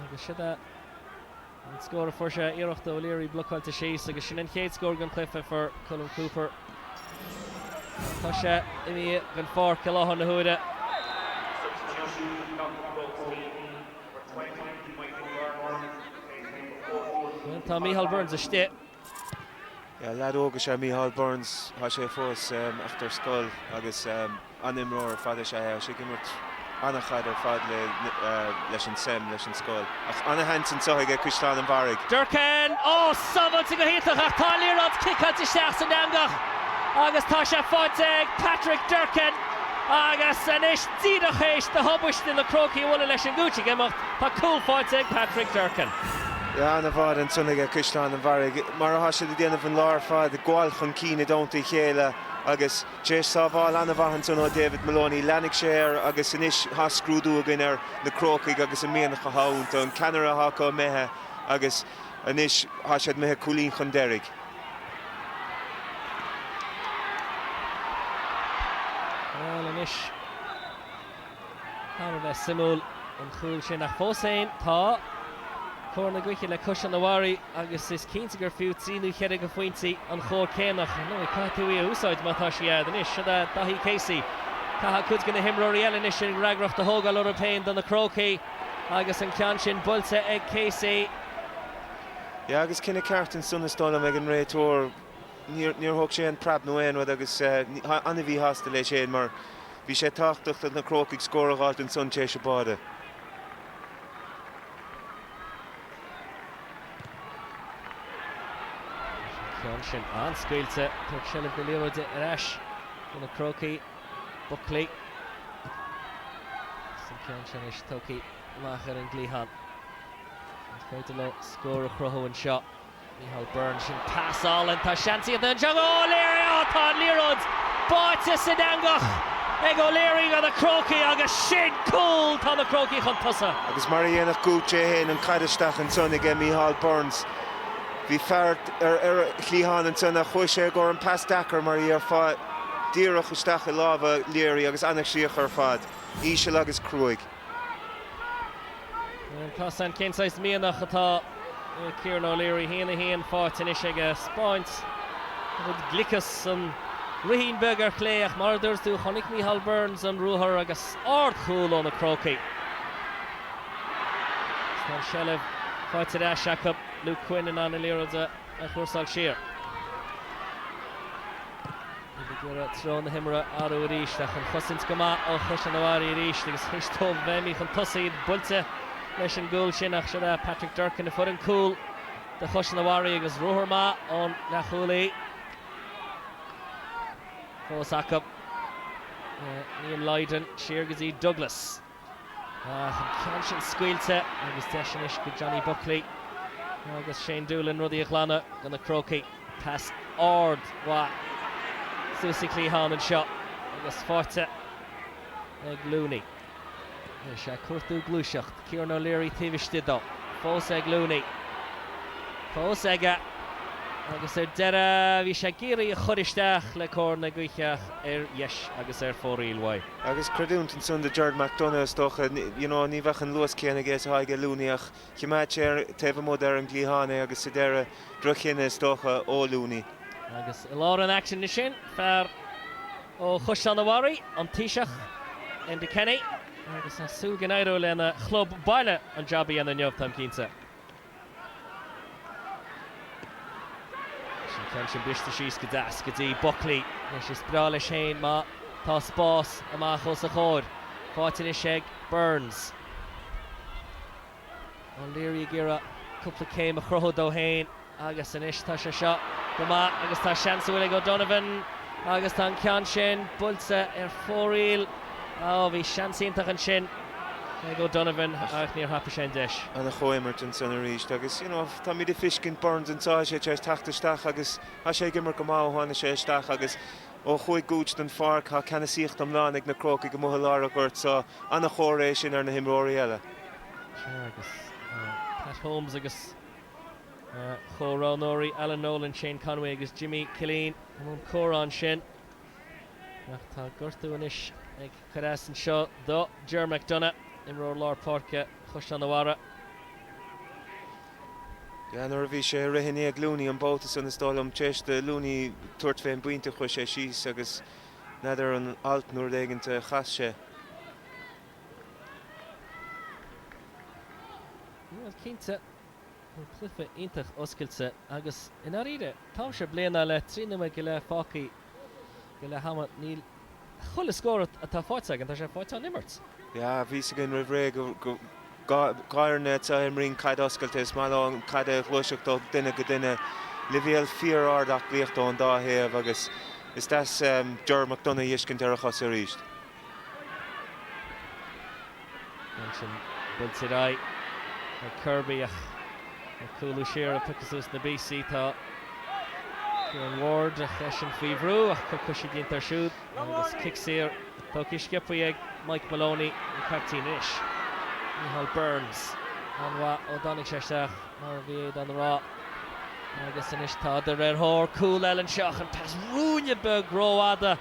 Agus siod é an scór a fuair sé, iarracht ó O'Leary blocáilte síos agus sin an chéad scór den chluiche a fuair Colm Cooper. Tá sé imithe den pháirc i láthair na huaire. Tá Micheál Burns istigh. Leaid óg is ea Mícheál Burns. Tá sé fós, ach, ar scoil agus an-imreoir ar fad is ea é. Tá sé ag imirt an-chaid ar fad leis an Sem, leis an scoil. Ach an-sheans anseo aige Caisleán an Bharraigh. Durcan, á sábhailte go hiontach ach tá an liathróid cicáilte isteach san eangach agus tá sé faighte ag Patrick Durcan agus anois díreach théis don tubaiste na Crócaigh a bhualadh leis an Gooch ag imeacht, Tá cúl faighte ag Patrick Durcan. An-mhaith ansan aige Caisleán an Bharraigh, mar atá siad ag déanamh an lá ar fad, ag gabháil chun cinn i dteannta a chéile agus tar éis sábháil an-mhaith ansan ó David Moloney, leanaigh sé air agus anois tá scrúdú againn ar na Crócaigh agus an mianach atá iontu, an ceannaire atá acu imithe agus anois tá siad imithe cúilín chun deiridh. Bhuel anois. Thar a bheith suimiúil an cúl sin ach fós féin tá cóir na gaoithe le Caisleán an Bharraigh agus is cinnte gur fiú trí nó cheithre de phointí an chóir céanna ach, ar ndóigh, caithfidh tú í a úsáid má tá sí a'd. Anois, siod é Daithí Casey. Caithfidh cuid de na himreoirí eile anois an fhreagracht a thógáil orthu féin do na Crócaigh agus an ceann sin buailte ag Casey. Yeah, agus cinneadh ceart ansan is dóigh liom ag an réiteoir. Níor thóg sé aon preab nó aon rud agus ní, an-mhíshásta leis féin mar, Bhí sé tábhachtach do na Crócaigh scór a dh'fháilt ansan tar éis an báire. An ceann sin an-scaoilte, tabharfaidh sé seilbh na liathróide ar ais do na Crócaigh. Buckley agus an ceann sin anois tugtha amach ar an gcliathán. An féidir leo scór a chruthú anseo? Micheál Burns, sin pas álainn, tá seans iontach anseo ag O'Leary, á tá an liathróid báite san eangach ag O'Leary do na Crócaigh agus sin cúl! Tá na Crócaigh chun tosaigh. Agus mar a dhéanadh Gooch é fhéin, an caid isteach ansan aige Micheál Burns. Bhí fear ar a chliathán ansan ach chuaigh sé i gcomhair an pas deacair mar a dhéarfá, díreach isteach i lámha Leary agus ana-chríoch ar fad, íseal agus cruaidh. Taispeánann sé cén saghas mianach atá i Kieran O'Leary? Haon a haon fáighte anois aige. 'Speáint a chuid gliocas san rithín beag ar chlé ach mar a dúirt tú, chonaic Micheál Burns an ruathar agus ard chúl ó na Crócaigh. Agus tá an seilbh faighte ar ais acu, Luke Quinn in ann an liathróid a a chúrsáil siar. Ag iarraidh treo na himeartha a athrú arís ach an chosaint go maith ó Chaisleán an Bharraigh arís agus tar éis dóibh a bheith imithe chun tosaigh, iad buailte leis an gcúl sin ach siod é Patrick Durcan a fuair an cúl do Chaisleán an Bharraigh agus ruathar maith ón leathchúlaí fós acu Neil Lydon siar go dtí Douglas. Ach an ceann sin scaoilte agus deis anois ag Johnny Buckley agus Shane Doolan rudaí a ghlanadh do na Crócaigh. Pas ardmhaith suas sa chliathán anseo agus fáighte ag Looney. Is é ag cuartú gluaiseacht Kieran O'Leary taobh istigh dó. Fós ag Looney. Fós aige agus ar deireadh bhí sé ag iarraidh a chur isteach le cóir na gaoithe ach ar dheis agus ar fóraoil uaidh. Agus creidiúint ansan do Gerard McDonough, is dócha, you know, ní bheadh an luas céanna aige is atá aige Looney ach chimeád sé ar, taobh amuigh de ar an gcliathán é agus sa deireadh, droch-chinneadh, is dócha, ó Looney. Agus i lár an aicsin ansin, fear ó Chaisleán a' Bharraigh, an Taoiseach, Enda Kenny, agus tá súil go n-éireoidh lena chlub baile an jab a dhéanamh inniu, táim cinnte. An ceann sin briste síos go deas go dtí Buckley. Anois is breá leis é má tá spás amach os a chomhair. Fáighte anois ag Burns. O'Leary ag iarraidh cúpla céim a chruthú dó féin agus anois tá sé seo go maith agus tá seans ar chúl ag O'Donovan agus tá an ceann sin buailte ar fóraoil. Á, bhí seans iontach ansin. ag O'Donovan ach níor thapaigh sé an deis. ana-chomhimirt ansin arís agus you know táimid ag fiscint Burns anseo tá sé tar éis teacht isteach agus tá sé ag imirt go maith ó tháinig sé isteach agus ó chuaigh Gooch den pháirc tá ceannasaíocht iomlán ag na Crócaigh amuigh i lár an ghoirt so an-chomhartha é sin ar na himreoirí eile. Sure agus Pat Holmes agus a chomhroghnóirí Alan Nolan, Shane Conway agus Jimmy Killeen i mbun comhrá ansin ach tá gortú anois ag. cur as anseo do Ger McDonagh, imreoir lár páirce Chaisleán an Bharraigh. Yeah, nuair a bhí sé ag rith i ndiaidh Looney an babhta san, is dóigh liom, tar éis do Looney tabhairt fé an bpointe chuaigh sé síos agus n'fheadar an alt nó rud éigint a chas sé. Bhuel, cinnte, tá cluiche iontach oscailte agus, i ndáiríre, táimse bliain á leith, trí nóiméad go leith fágtha go leath ama níl chuile scór atá faighte againn, tá sé faighte ón imirt. Yeah, bhí a fhios againn roimh ré gur dhá fhoireann iad a imríonn caid oscailte is maith leo an caid a ghluaiseacht ó dhuine go duine. Leibhéal fíor-ard aclaíochta ón dá thaobh agus is deas Ger McDonagh a fhiscint ar a chos arís. Ansin buailte ar aghaidh ag Kirby ach ag cúlú siar ag piocadh suas na bpíosaí tá Kieran Ward ach eisean faoi bhrú ach cor coise déanta air siúd agus cic saor. Tógtha sciobtha ag Mike Moloney, an caiptín anois. Micheál Burns an-mhaith ó dtáinig sé isteach, mar a bhí Aodhán a rá, agus anois tádar ar thóir cúl eile anseo ach an pas rúinne beag rófhada.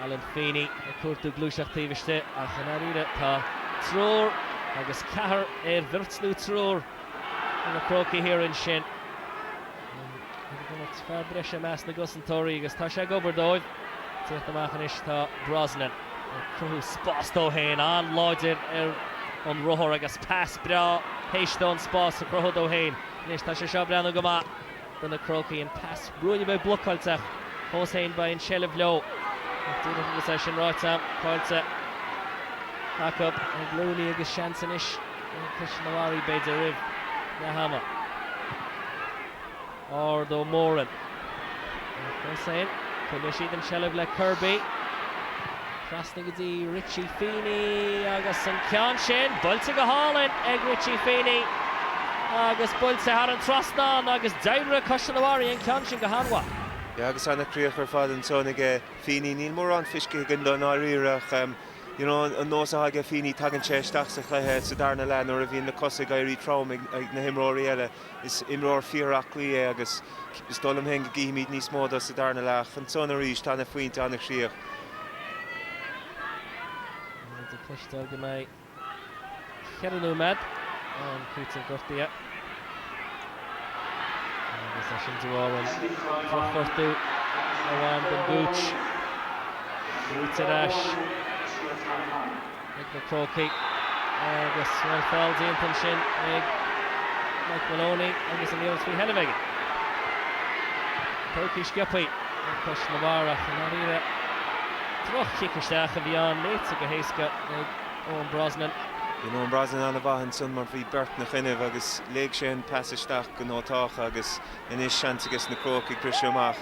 Alan Feeney ag cuartú gluaiseacht taobh istigh ach i ndáiríre tá triúr agus ceathrar ar bheirt nó triúr de na Crócaigh thiar ansin. Fear breise i measc na gcosantóirí agus tá sé ag obair dóibh. Tíocht amach anois tá Brosnan ag cruthú spás dó féin, an-láidir ar an ruathar agus pas breá théis dó an spás a chruthú dó féin. Anois tá sé seo ag breathnú go maith. do na Crócaigh. An pas rúinne beag blocáilte fós féin beidh an seilbh leo ach d'fhéadfadh agus é sin ráite caillte acu ag Looney agus seans anois ag Caisleán an Bharraigh b'fhéidir roimh leath ama. Ard ó Moran ach fós féin, coinníonn siad an seilbh le Kirby. Trasna go dtí Richie Feeney agus an ceann sin buailte go hálainn ag Richie Feeney agus buailte thar an trasnán agus d'oibrigh Caisleán an Bharraigh an ceann sin go han-mhaith. Yeah agus an-chríoch ar fad ansan aige Feeney. Níl mórán fiscithe againn dó i ndáiríre ach you know an nós atá aige Feeney tagann sé isteach sa chluiche sa darna leath nuair a bhíonn na cosa ag éirí trom ag na himreoirí eile. Is imreoir fíor-aclaí é agus is dóigh liom féin go gcífimid níos mó de sa darna leath. Ansan arís, an-phointe, an-chríoch. Muid ag cloisteáil go mbeidh cheithre nóiméad d'am cúitimh gortaithe agus é sin de bharr an drochghortú a bhain don Gooch. Fliúit ar ais. Ag na Crócaigh agus bhuel feall déanta ansin ag Mike Moloney agus an liathróid faoi sheilbh aige. Saorchic sciopthaí ag Caisleán an Bharraigh i ndáiríre. Droch-chic isteach a bhí ann léite go héasca ag Eoin Brosnan. Bhí Eoin Brosnan an-mhaith ansin mar bhí beirt na choinnibh agus léigh sé an pas isteach go nótáltha agus Anois seans agus na Crócaigh ag briseadh amach.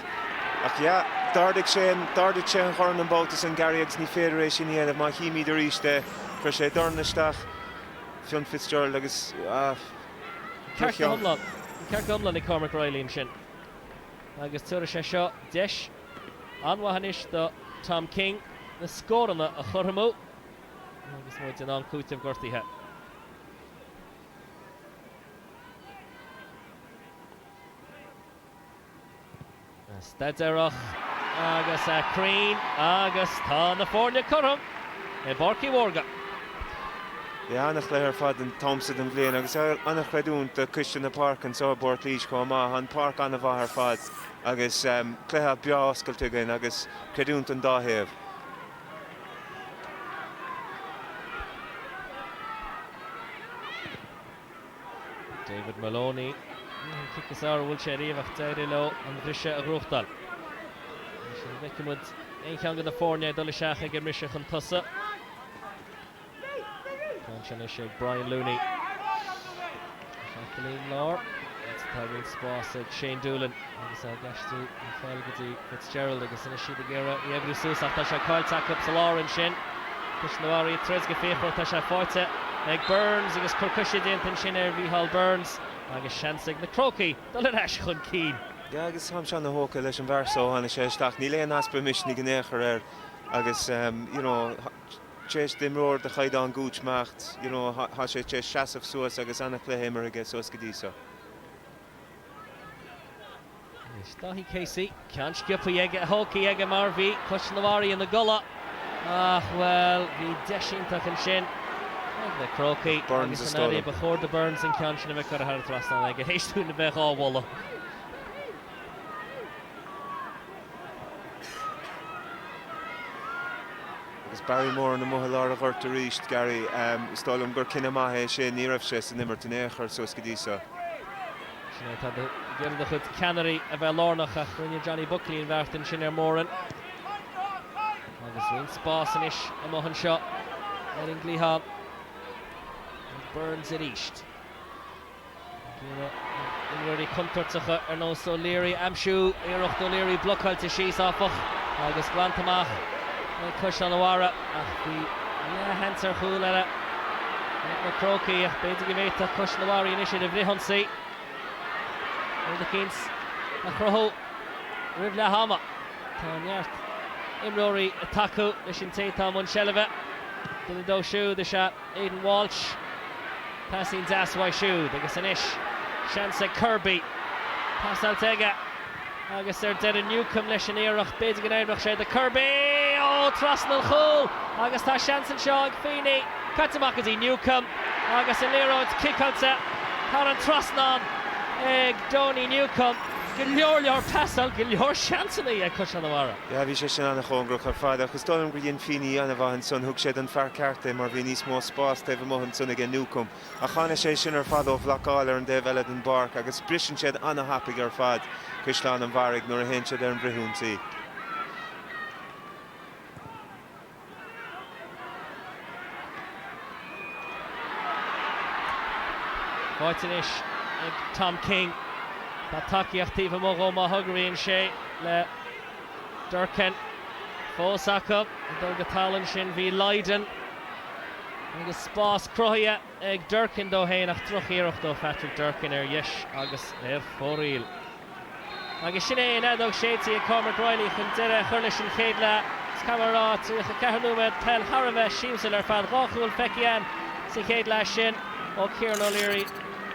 Ach yeah, d'ardaigh sé an, d'ardaigh sé an dorn an babhta san Gary agus ní féidir é sin a dhéanamh má chímíd arís é. Chuir sé a dhorn isteach, Fionn Fitzgerald agus, ah, ba cheart. Ceart go hiomlán ag Cormac Reilly ansin agus tabharfaidh sé seo deis an-mhaith anois do Tom King na scóranna a chothromú agus muid in am cúitimh gortaithe. staidéarach agus cruinn agus tá na foirne cothrom i bPáirc Uí Mhórdha. Yeah, an-chluiche ar fad an t-am so den bhliain agus an-chreidiúint do Choiste na Páirce anseo i bPort Laoise chomh maith. Tá an pháirc an-mhaith ar fad agus cluiche breá oscailte againn agus creidiúint don dá thaobh. David Moloney, an cic is fhearr a bhuail sé ariamh ach d'éirigh leo an briseadh a ghnóthachtáil. Anois an bhfeicfidh muid aon cheann de na foirne ag dul isteach ag an mbriseadh chun tosaigh. Seans anois ag Brian Looney isteach go dtí an lár agus tá roinnt spás ag Shane Doolan agus á gceistiú ar fáil go dtí Fitzgerald agus anois iad ag iarraidh í a oibriú suas ach tá sé caillte acu sa lár ansin. Caisleán an Bharraigh ag troid go fíochmhar, tá sé faighte ag Burns agus cor coise déanta ansin ar Mhícheál Burns agus seans ag na Crócaigh dul ar ais chun cinn. Agus táimse an-thógtha leis an bhfear so ó tháinig sé isteach, níl aon easpa misnigh in aon chor air agus you know, Théis d'imreoir de chaighdeán Gooch imeacht, you know, thá sé tar éis seasamh suas agus an-chluiche imeartha aige suas go dtí so. Anois Daithí Casey, ceann sciopthaí aige, tógtha aige mar bhí Caisleán an Bharraigh ina gcodladh ach, bhuel, bhí deis iontach ansin ag na Crócaigh agus i ndáiríre ba chóir do Burns an ceann sin a bheith curtha thar an trasnán aige, théis dúinn a bheith dhá mholadh. Agus Barry Moran amuigh i lár a' ghoirt aríst, Gary, is dóigh liom gur cinneadh maith é sin. Ní raibh sé san imirt in aon chor suas go dtí seo. Sin é atá de dhíth ar do chuid ceannairí, a bheith lárnach, ach rinne Johnny Buckley an bheart ansin ar Moran. Agus roinnt spás anois amuigh anseo ar an gcliathán ag Burns aríst. Dúradh na himreoirí contúirteacha ar nós O'Leary a aimsiú, iarracht O'Leary blocáilte síos, áfach, agus glanta amach ag Caisleán an Bharraigh, ach bhí leathshans ar chúl eile ag na Crócaigh, ach b'fhéidir go bhféadfadh Caisleán an Bharraigh anois ar an bhfrithionsaí rud eicínt a chruthú roimh leath ama. Tá neart imreoirí ag tacú leis an té atá i mbun seilbhe, duine díobh siúd is ea. Aidan Walsh, paisín deas uaidh siúd agus anois seans ag Kirby pasáilte aige agus ar deireadh Newcombe leis an iarracht, b'fhéidir go n-oibreodh sé do Kirby ó trasna an chúil agus tá seans anseo ag Feeney, caite amach go dtí Newcombe agus an liathróid ciceáilte thar an trasnán ag Donie Newcombe. Go leor leor pasáil, go leor seansanna ag Caisleán an Bharraigh. Yeah, bhí sé sin an-chóngarach ar fad, ach is dóigh liom gur dhein Feeney an-mhaith ansan, thug sé don fear ceart é mar bhí níos mó spás taobh amuigh ansan aige Newcombe, ach tháinig sé sin ar fad ó bhlocáil ar an dtaobh eile den bpáirc agus briseann siad an-thapaidh ar fad, Caisleán an Bharraigh, nuair a théann siad ar an bhfrithionsaí. Faighte anois ag Tom King. Tá tacaíocht taobh amuigh dhó má thograíonn sé le Durcan. Fós acu ag dul go talamh ansin bhí Lydon agus spás cruthaithe ag Durcan dó fhéin ach drochiarracht ó Phatrick Durcan ar dheis agus ar fóraoil. Agus sin é an fheadóg séidte ag Cormac Reilly chun deireadh a chur leis an chéad leath. Caithfidh mé a rá, 34 nóiméad peile thar a bheith siamsúil ar fad. Dhá chúl feicthe againn sa chéad leath sin ó Kieran O'Leary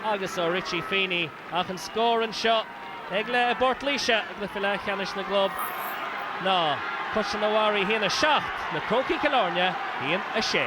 agus ó Richie Feeney. Ach an scór anseo ag leath i bPort Laoise i gcluiche leathcheannais na gclub ná. Caisleán an Bharraigh 1-7, Na Crócaigh Cill Airne 1-6.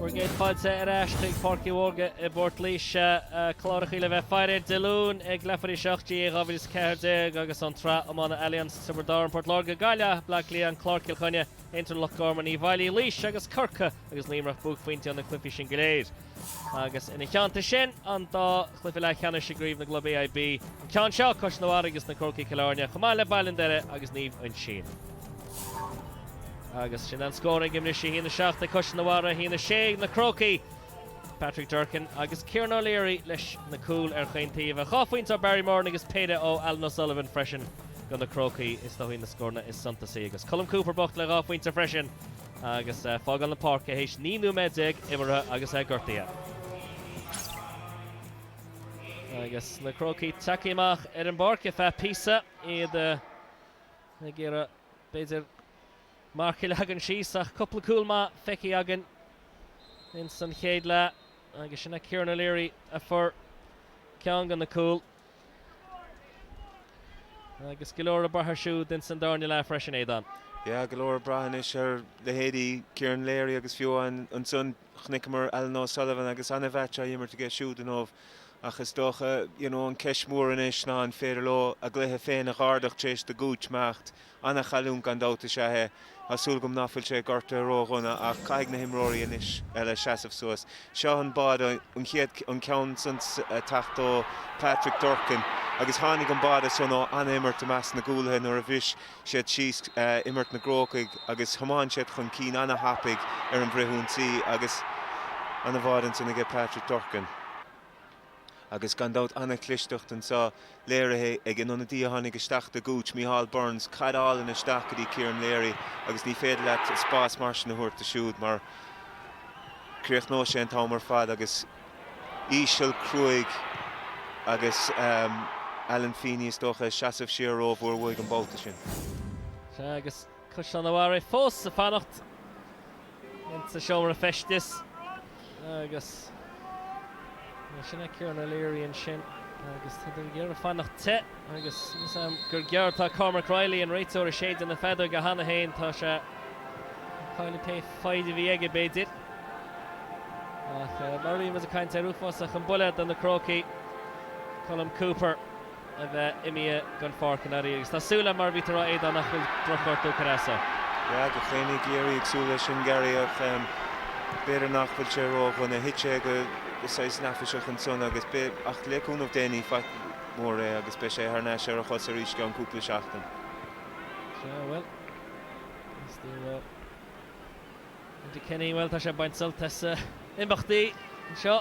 Bhur gcéad fáilte ar ais chuig Páirc Uí Mhórdha i bPort Laoise. Clárachaí le bheith ag faire ar Dé Luain ag leathuair tar éis a 8 GAA 2014 agus an tSraith Iomána Allianz, Tiobraid Árann, Port Láirge, Gaillimh, Bleá Cliath, An Clár, Cill Chainnigh, Aontroim, Loch Garman, Uíbh Fhailí, Laois agus Corcaigh agus Luimneach, buaicphointí ó na cluichí sin go léir. agus ina theannta sin, an dá chluiche leathcheannais i gCraobh na gClub AIB, an ceann seo Caisleán an Bharraigh agus na Crócaigh Cill Airne, chomh maith le Baile an Doire agus Naomh Uinsionn. Agus sin an scór againn anois, a haon a seacht ag Caisleán an Bharraigh, a haon a sé ag na Crócaigh. Patrick Durcan agus Kieran O'Leary leis na cúil ar chaon taobh. A dhá phointe ó Barry Moran agus péire ó Alan O'Sullivan freisin do na Crócaigh. Is dócha na scóranna is suntasaí agus Colm Cooper bocht le dhá phointe freisin. agus fágáil na páirce théis 19 nóiméad imeartha agus é gortaithe. Agus na Crócaigh tagtha amach ar an bpáirc ar feadh píosa, iad ag iarraidh b'fhéidir marc a leagan síos ach cúpla cúl maith feicthe againn insan chéad leath agus sin é Kieran O'Leary a fuair ceann de na cúil. Agus go leor ag brath air siúd ins an darna leath freisin, Aodán. Yeah, go leor ag brath anois ar leithéidí Kieran Leary agus fiú ansan chonaiceamar Alan O'Sullivan agus ana-mheaits á imirt aige siúd inniu ach is dócha, you know, an ceist mhór anois ná an féidir leo a gcluiche féin a dh'ardach tar éis do Gooch imeacht Ana-chailliúint gan dabht is ea é. Tá súil agam ná fuil sé gortaithe ró-dhona ach caithfidh na himreoirí anois eile seasamh suas. Seo an báide, an chéad an ceann san ag teacht ó Patrick Durcan agus tháinig an báide san ó ana-imirt i measc na gcúlaithe nuair a bhris siad síos imirt na gCrócach agus thiomáin siad chun cinn ana-thapaidh ar an bhfrithionsaí agus ana-bháide ansin aige Patrick Durcan. agus gan dabht an-chlisteacht anseo léirithe ag an ionadaí a tháinig isteach do Gooch, Micheál Burns, caid álainn isteach go dtí Kieran Leary agus ní féidir leat an spás mar sin a thabhairt dó siúd mar críochnóidh sé an t-am ar fad agus íseal cruaidh agus Alan Feeney is dócha ag seasamh siar rómhór uaidh an babhta sin. Sea agus Caisleán an Bharraigh fós ag fanacht ins a seomra feistis agus sin é Kieran O'Leary ansin agus iad ag iarraidh fanacht te agus is am gur gearr tá Cormac Reilly an réiteoir ag séideadh na feadóige cheana féin tá sé ag cailleadh pé foighid a bhí aige b'fhéidir ach mar bhí muid ag caint air uafásach an buille do na Crócaigh Colm Cooper a bheith imithe den pháirc inniu agus tá súil agam, mar a bhí tú a rá, Aodán, nach bhfuil drochghortú curtha as a. Yeah, gach éinne i gCiarraí ag súil leis sin Garry ach b'fhéidir nach bhfuil sé ró-dhona. Thit sé go saghas neafaiseach ansan agus beidh, ach le cúnamh Dé ní faic mhór é agus beidh sé thar n-ais ar a chos arís i gceann cúpla seachtain. Sea, bhuel, Enda Kenny, bhuel, tá sé ag baint sult as imeachtaí anseo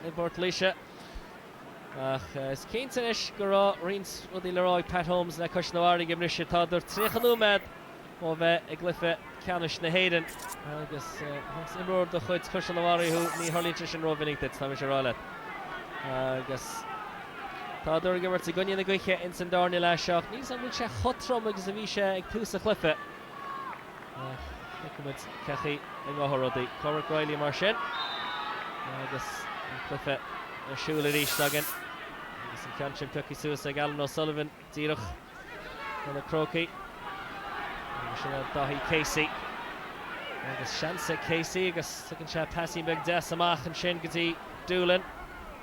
i bPort Laoise. Ach is cinnte anois go raibh roinnt rudaí le rá ag Pat Holmes le Caisleán an Bharraigh ag an mbriseadh. Tádar 30 nóiméad ó bheith i gcluiche ceannais na hÉireann agus más imreoir de chuid Chaisleán an Bharraigh thú, ní tharlaíonn sé sin rómhinic duit, tá mise ag rá leat. Agus tádar ag imirt i gcoinne na gaoithe ins an darna leath seo ach níl 's agam an bhfuil sé chomh trom agus a bhí sé ag tús an chluiche. Ach feicfidh muid cén chaoi a ngabhfaidh rudaí. Cormac Reilly mar sin agus an cluiche ar siúl arís againn agus an ceann sin pioctha suas ag Alan O'Sullivan díreach chun na Crócaigh. Agus sin é Daithí Casey agus seans ag Casey agus tugann sé pasín beag deas amach ansin go dtí Doolan.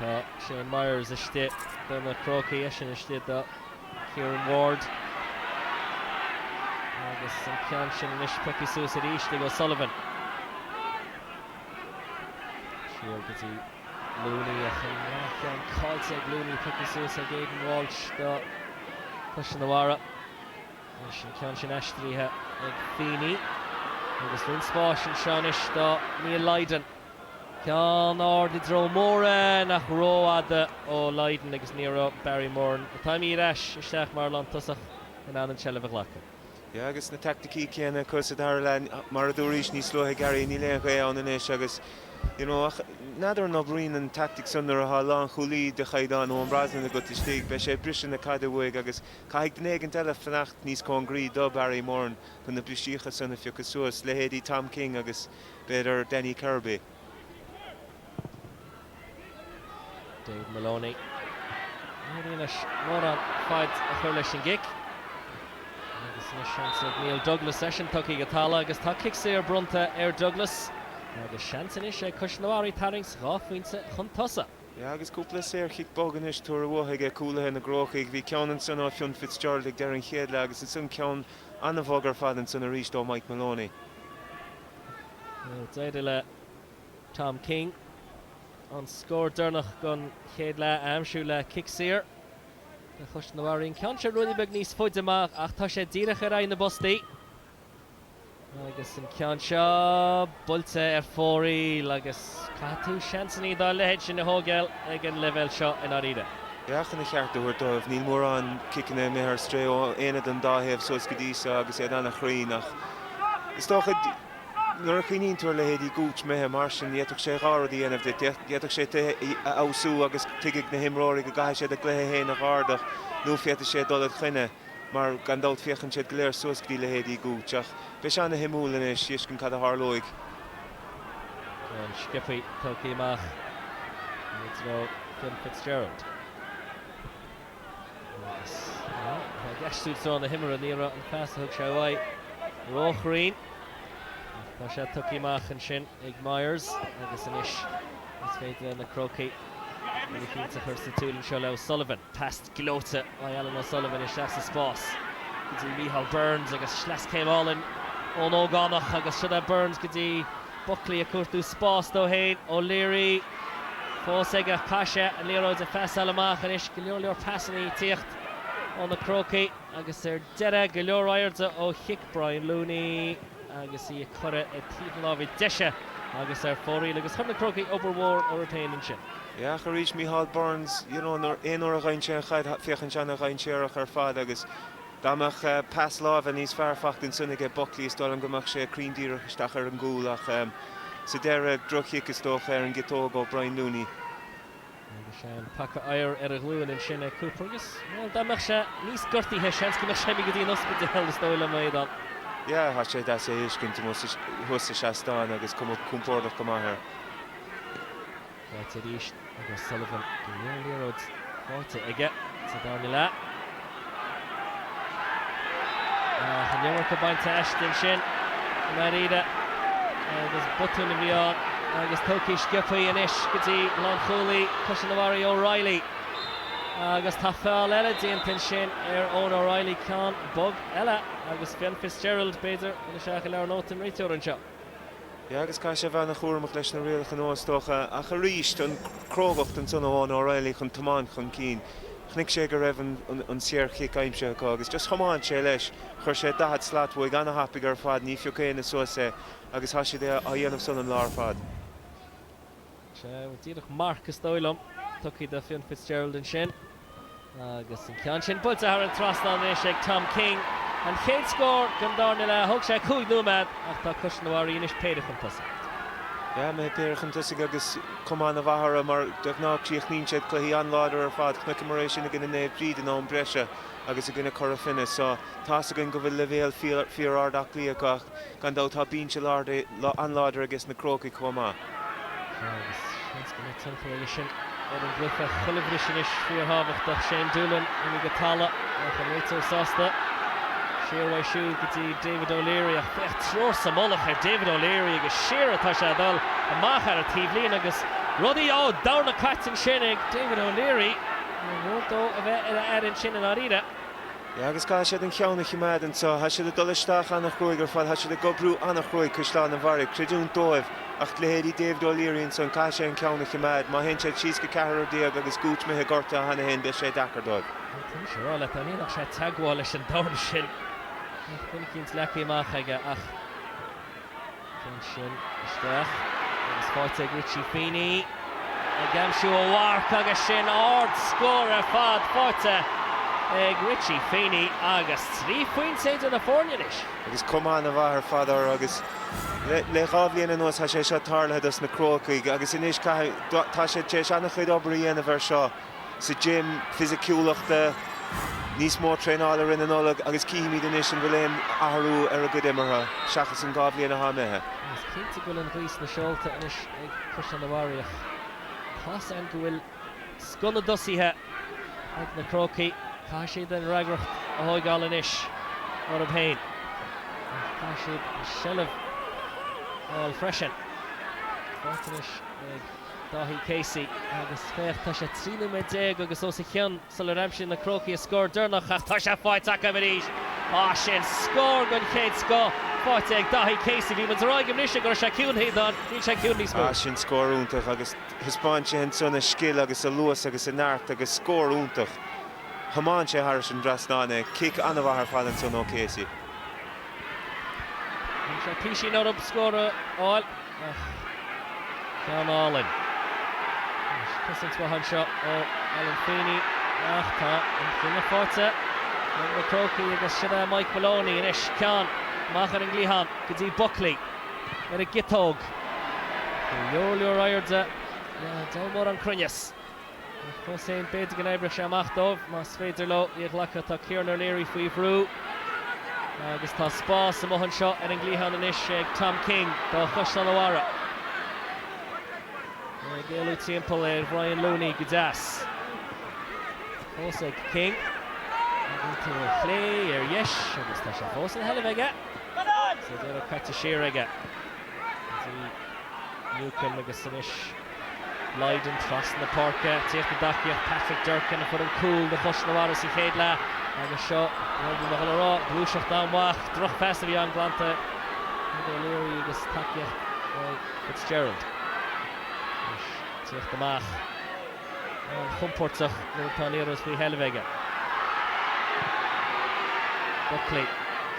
Tá Shane Myers istigh do na Crócaigh, eisean istigh do Kieran Ward. Agus an ceann sin anois pioctha suas aríst ag O'Sullivan. Siar go dtí Looney ach an ceann caillte ag Looney pioctha suas ag Aidan Walsh do Chaisleán an Bharraigh. Anois an ceann sin aistrithe ag Feeney agus roinnt spáis anseo anois do Neil Lydon. Ceann ard i dtreo Moran ach rófhada ó Lydon agus ní raibh Barry Moran, atá imithe ar ais isteach mar lántosach, in ann an tseilbh a ghlacadh. Yeah agus na taicticí céanna acu sa dara leath. Mar a dúraís níos luaithe, Gary, níl aon ghaoth ann anois agus, you know, ach n'fheadar an oibríonn an taictic san nuair atá lánchúlaí de chaighdeán Eoin Brosnan agat istigh. Beidh sé ag briseadh na caide uaidh agus. Caithfidh duine éigin eile fanacht níos cóngaraí do Barry Moran chun na brisíocha san a phiocadh suas, leithéidí Tom King agus, b'fhéidir, Danny Kirby. David Moloney. Níor éirigh leis mórán faid a chur leis an gcic. Agus anois seans ag Neil Douglas eisean tugtha go talamh agus tá cic saor bronnta ar Douglas agus seans anois ag Caisleán an Bharraigh tarraingt dhá phointe chun tosaigh. Yeah agus cúpla saorchic bog anois tabhartha uathu aige cúlaithe na gCrócaigh. Bhí ceann ansan ó Fionn Fitzgerald ag deireadh an chéad leath agus ansan ceann an-bhog ar fad ansan aríst ó Mike Moloney. D'éirigh le Tom King an scór deireanach den chéad leath a aimsiú le cic saor do Chaisleán an Bharraigh. An ceann seo ruainne beag níos faide amach ach tá sé díreach ar aghaidh na bpostaí. Agus an ceann seo buailte ar fóraoil agus caithfidh tú seansannaí dá leithéid sin a thógáil ag an leibhéal seo i ndáiríre. Yeah chun a cheart a thabhairt dóibh. Níl mórán ciceanna imithe ar strae ó aon duine den dá thaobh suas go dtí seo agus iad an-chruinn ach is dócha nuair a chuimhníonn tú ar leithéidí Gooch imithe mar sin, d'fhéadfadh sé dhá rud a dhéanamh duit. D'fhéadfadh sé tú a fheabhsú agus tuigfidh na himreoirí go gcaithfidh siad a gcluiche féin a dh'ardach nó féadfaidh sé dul id choinne. mar gan dabht féachann siad go léir suas go dtí leithéidí Gooch ach beidh sé ana-shuimiúil anois a fheiscint cad a tharlóidh. An-sciobtha tugtha amach i dtreo Finn Fitzgerald. Agus, bhuel, tá i gceist i dtreo na himeartha, ní raibh an pas a thug sé uaidh róchruinn ach tá sé tugtha amach ansin ag Myers agus anois is féidir le na Crócaigh rud éicínt a chur sa tsiúl anseo le O'Sullivan. Pas gleoite ag Alan O'Sullivan isteach sa spás go dtí Micheál Burns agus sleaschéim álainn ón ógánach agus siod é Burns go dtí Buckley ag cuartú spás dó fhéin. O'Leary fós aige ach caithfidh sé an liathróid a phasáil amach anois go leor leor pasanna ag tíocht ó na Crócaigh agus ar deireadh go leor airde ó chic Brian Looney. agus í ag cuaradh go taobh na láimhe deise agus ar fóraoil agus chuir na Crócaigh obair mhór orthu féin ansin. Ach arís, Micheál Burns, you know, nuair, aon uair a fhaigheann sé an chaid, féachann sé ana-dhainséarach ar fad agus dá mbeadh pas láimhe níos fearr faighte ansin aige Buckley is dóigh liom go mbeadh sé cruinn díreach isteach ar an gcúl ach sa deireadh droch-chic is dócha ar an gciotóg ó Brian Looney. Agus é an paca oighir ar a ghlúin ansin ag Cooper agus, bhuel, dá mbeadh sé níos gortaithe, seans go mbeadh sé ag imeacht go dtí an ospidéal, is dóigh liom, a Aodán. Yeah, tá sé deas é a fheiscint amuigh thuas sa seastán agus cuma compordach go maith air. Faighte arís ag O'Sullivan. Go leor liathróid faighte aige sa darna leath. An iomarca bainte aisti ansin i ndáiríre agus botún a bhí ann agus tógtha sciopthaí anois go dtí lánchúlaí Chaisleán an Bharraigh O'Reilly. Agus tá feall eile déanta ansin ar Eoghan O'Reilly, ceann bog eile agus Fionn Fitzgerald, b'fhéidir, imithe isteach i leabhar nótaí an réiteora anseo. Sea, agus caithfidh sé a bheith ana-chúramach leis na rialacha nua, is dócha, ach arís, an crógacht ansan ó Eoghan O'Reilly chun tiomáint chun cinn. Chonaic sé go raibh an saor-chic aimsithe acu, agus just thiomáin sé leis. Chuir sé daichead slat uaidh ana-thapaidh ar fad, ní phioc éinne suas é, agus tá sé á dhéanamh san an lá ar fad. Sea, díreach marc is dóigh liom tugtha do Fionn Fitzgerald ansin. Agus an ceann sin buailte thar an trasnán anois ag Tom King an chéad scór den darna leath. Thóg sé cúig nóiméad ach tá Caisleán an Bharraigh anois péire chun tosaigh. Sea, mé péire chun tosaigh agus Caisleán an Bharraigh mar de ghnáth críochnaíonn siad cluichí an-láidir ar fad. Chonaiceamar é sin i gcoinne Naomh Bríd in am breise agus i gcoinne Cora Finne. So tá 'fhios againn go bhfuil leibhéal fíor-ard aclaíocht acu Gan dabht tá binse an-láidir ages na Crócaigh chomh maith. Tá agus seans go mbeidh tionchar aige sin ar an gcluiche. Chuile bhris anois, fíorthábhachtach. Shane Doolan imithe go talamh ach an réiteoir sásta. Siar uaidh siúd go dtí David O'Leary ach féach triúr sa mullach ar David O'Leary agus siar atá sé ag dul, amach ar an taobhlíne agus rudaí á, dorn caite ansin ag David O'Leary. Ní mór dó a bheith ar a aire ansin i ndáiríre. Yeah agus caithfidh siad an cheann a chimeád anseo. Thá siad ag dul isteach ana-chruaidh ar fad, thá siad ag oibriú ana-chruaidh, Caisleán an Bharraigh, creidiúint dóibh, ach leithéidí David O'Leary ansan, caithfidh sé an ceann a chimeád, má théann siad síos go ceathrar déag agus Gooch imithe gortaithe cheana féin beidh sé deacair dóibh. Caithfidh mise a rá leat dá ndéanfadh sé teagmháil leis an dorn sin, bheadh bainic iontleacaí amach aige ach. Ceann sin isteach agus faighte ag Richie Feeney ag aimsiú a mharc agus sin ard scór ar fad faighte ag Richie Feeney agus trí phointe idir na foirne anois. Agus cuma ana mhaith ar fad orthu agus le dhá bhliain anuas tá sé seo tarlaithe dos na Crócaigh agus anois caithfidh, tá siad tar éis ana chuid obair a dhéanamh ar seo. sa gym fisiciúlachta, níos mó traenáil i rith na Nollag agus cífimid anois an bhfuil aon athrú ar a gcuid imeartha seachas an dhá bhliain atá imithe. Is cinnte go bhfuil an ghaoth sna seolta anois ag Caisleán an Bharraigh ach tá's againn go bhfuil scoth na dtosaithe ag na Crócaigh. Caithfidh siad an fhreagracht a thóigeáil anois orthu féin ach caithfidh siad an seilbh a fháil freisin. Faighte anois ag. Dáithí Casey, Agus féach, tá sé 13 nóiméad agus os a chionn sular aimsigh na Crócaigh a scór deireanach ach tá sé faighte acu arís. Á, sin scór den chéad scoth, faighte ag Dáithí Casey. Bhí muid ag rá ag an mbriseadh go raibh sé ciúin, Aodán, níl sé ciúin níos mó. Á, sin scór iontach agus thaispeáin sé ansan a scil agus a luas agus a neart agus scór iontach. Thiomáin sé thairis an trasnán é, cic an-mhaith ar fad ansan ó Casey. Bhí sé in am acu scór a fháil. Ach ceann álainn. Cosaint mhaith anseo ó Alan Feeney ach tá an cinneadh faighte ag na Crócaigh agus sin é Mike Moloney anois. Ceann amach ar an gcliathán go dtí Buckley ar an gciotóg. Go leor leor airde diabhal mórán cruinneas. Ach fós féin, b'fhéidir go n-oibreodh sé amach dóibh, más féidir leo í a ghlacadh. Tá Kieran O'Leary faoi bhrú agus tá spás amuigh anseo ar an gcliathán anois ag Tom King do Chaisleán a' Bharraigh. É ag éalú timpeall ar Bhrian Looney go deas. Fós ag King. Ag iontú ar chlé, ar dheis, agus tá sé fós ina sheilbh aige. Sa deireadh caite siar aige. Newcombe agus anois Lydon trasna na páirce, tíocht i dtacaíocht, Patrick Durcan a fuair an cúl do Chaisleán a' Bharraigh sa chéad leath agus seo rud a bhí mé ag dul a rá, gluaiseacht an-mhaith, drochphas a bhí ann glanta ag O'Leary agus tacaíocht ó Fitzgerald. Anois tíocht amach an-chompórtach nuair atá an liathróid faoi sheilbh aige. Buckley,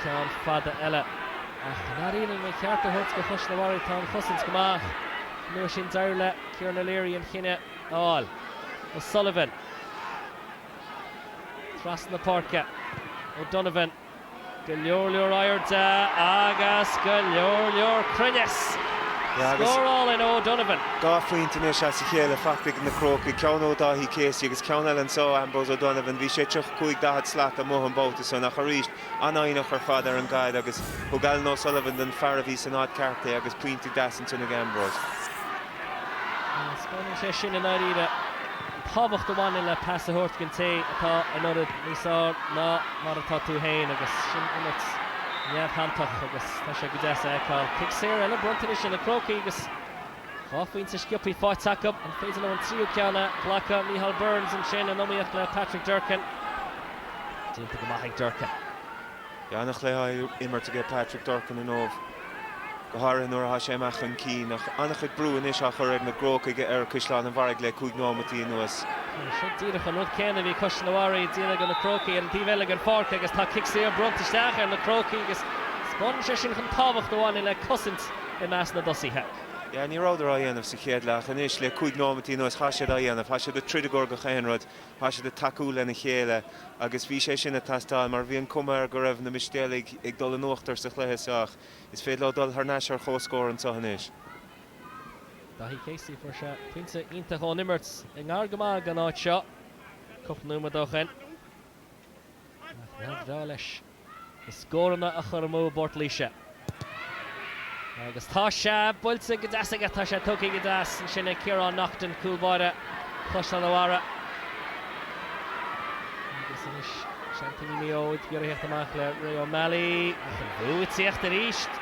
ceann fada eile ach i ndáiríre lena cheart a thabhairt do Chaisleán a' Bharraigh, tá an chosaint go maith. An uair sin d'éirigh le Kieran O'Leary an chinneadh a fháil. O'Sullivan trasna páirce. O'Donovan go leor leor airde agus go leor leor cruinneas. Scórálann O'Donovan. Dhá phointe anois as a chéile faighte ag na Crócaigh, ceann ó Dáithí Casey agus ceann eile anso ó Ambrose O'Donovan. Bhí sé 35-40 slat amuigh an babhta san ach arís an-fhoighneach ar fad ar an gcaid agus thug Alan O'Sullivan don fear a bhí san áit ceart é agus pointe deas ansin ag Ambrose. Taispeánann sé sin i ndáiríre an tábhacht a bhaineann le pas a thabhairt den té atá in ionad níos fearr ná mar atá tú féin agus sin imirt neamhshantach agus tá sé go deas a fheiceáil. Cic saor eile bronnta anois ar na Crócaigh agus Dhá phointe sciobthaí faighte acu. An féidir leo an tríú ceann a ghlacadh? Micheál Burns ansin in iomaíocht le Patrick Durcan. Déanta go maith ag Durcan. Bhí ana-chluiche á imirt aige Patrick Durcan inniu, go háirithe nuair atá sé amach chun cinn. Ach ana-chuid brú anois á chur ag na gCrócaigh ar Chaisleán an Bharraigh le cúig nóimeataí anuas. Seo díreach an rud céanna a bhí Caisleán an Bharraigh ag déanamh ar na Crócaigh ar an taobh eile den pháirc agus tá cic saor bronnta isteach ar na Crócaigh agus taispeánann sé sin an tábhacht a bhaineann le cosaint i measc na dtosaithe. Yeah, ní rabhadar á dhéanamh sa chéad leath ach anois le cúig nóimeataí anuas tá siad á dhéanamh, tá siad ag troid i gcomhar gach aon rud, tá siad ag tacú lena chéile agus bhí sé sin ag teastáil mar bhí an cuma air go raibh na Mistéalaigh ag dul in uachtar sa chluiche so ach is féidir leo dul thar n-ais ar chomhscór anseo anois. Daithí Casey, fuair sé pointe iontach ón imirt i ngar go maith den áit seo cúpla nóiméad ó shin ach neart bhreá leis na scóranna a chur amú i bPort Laoise. Agus tá sé buailte go deas aige ach tá sé tógtha go deas ansin ag Ciarán Naughton, cúl báire Chaisleán a' Bharraigh. Agus anois seaimpíní Mhaigh Eo ag iarraidh thíocht amach le Ray O'Malley, ach an brú ag tíocht aríst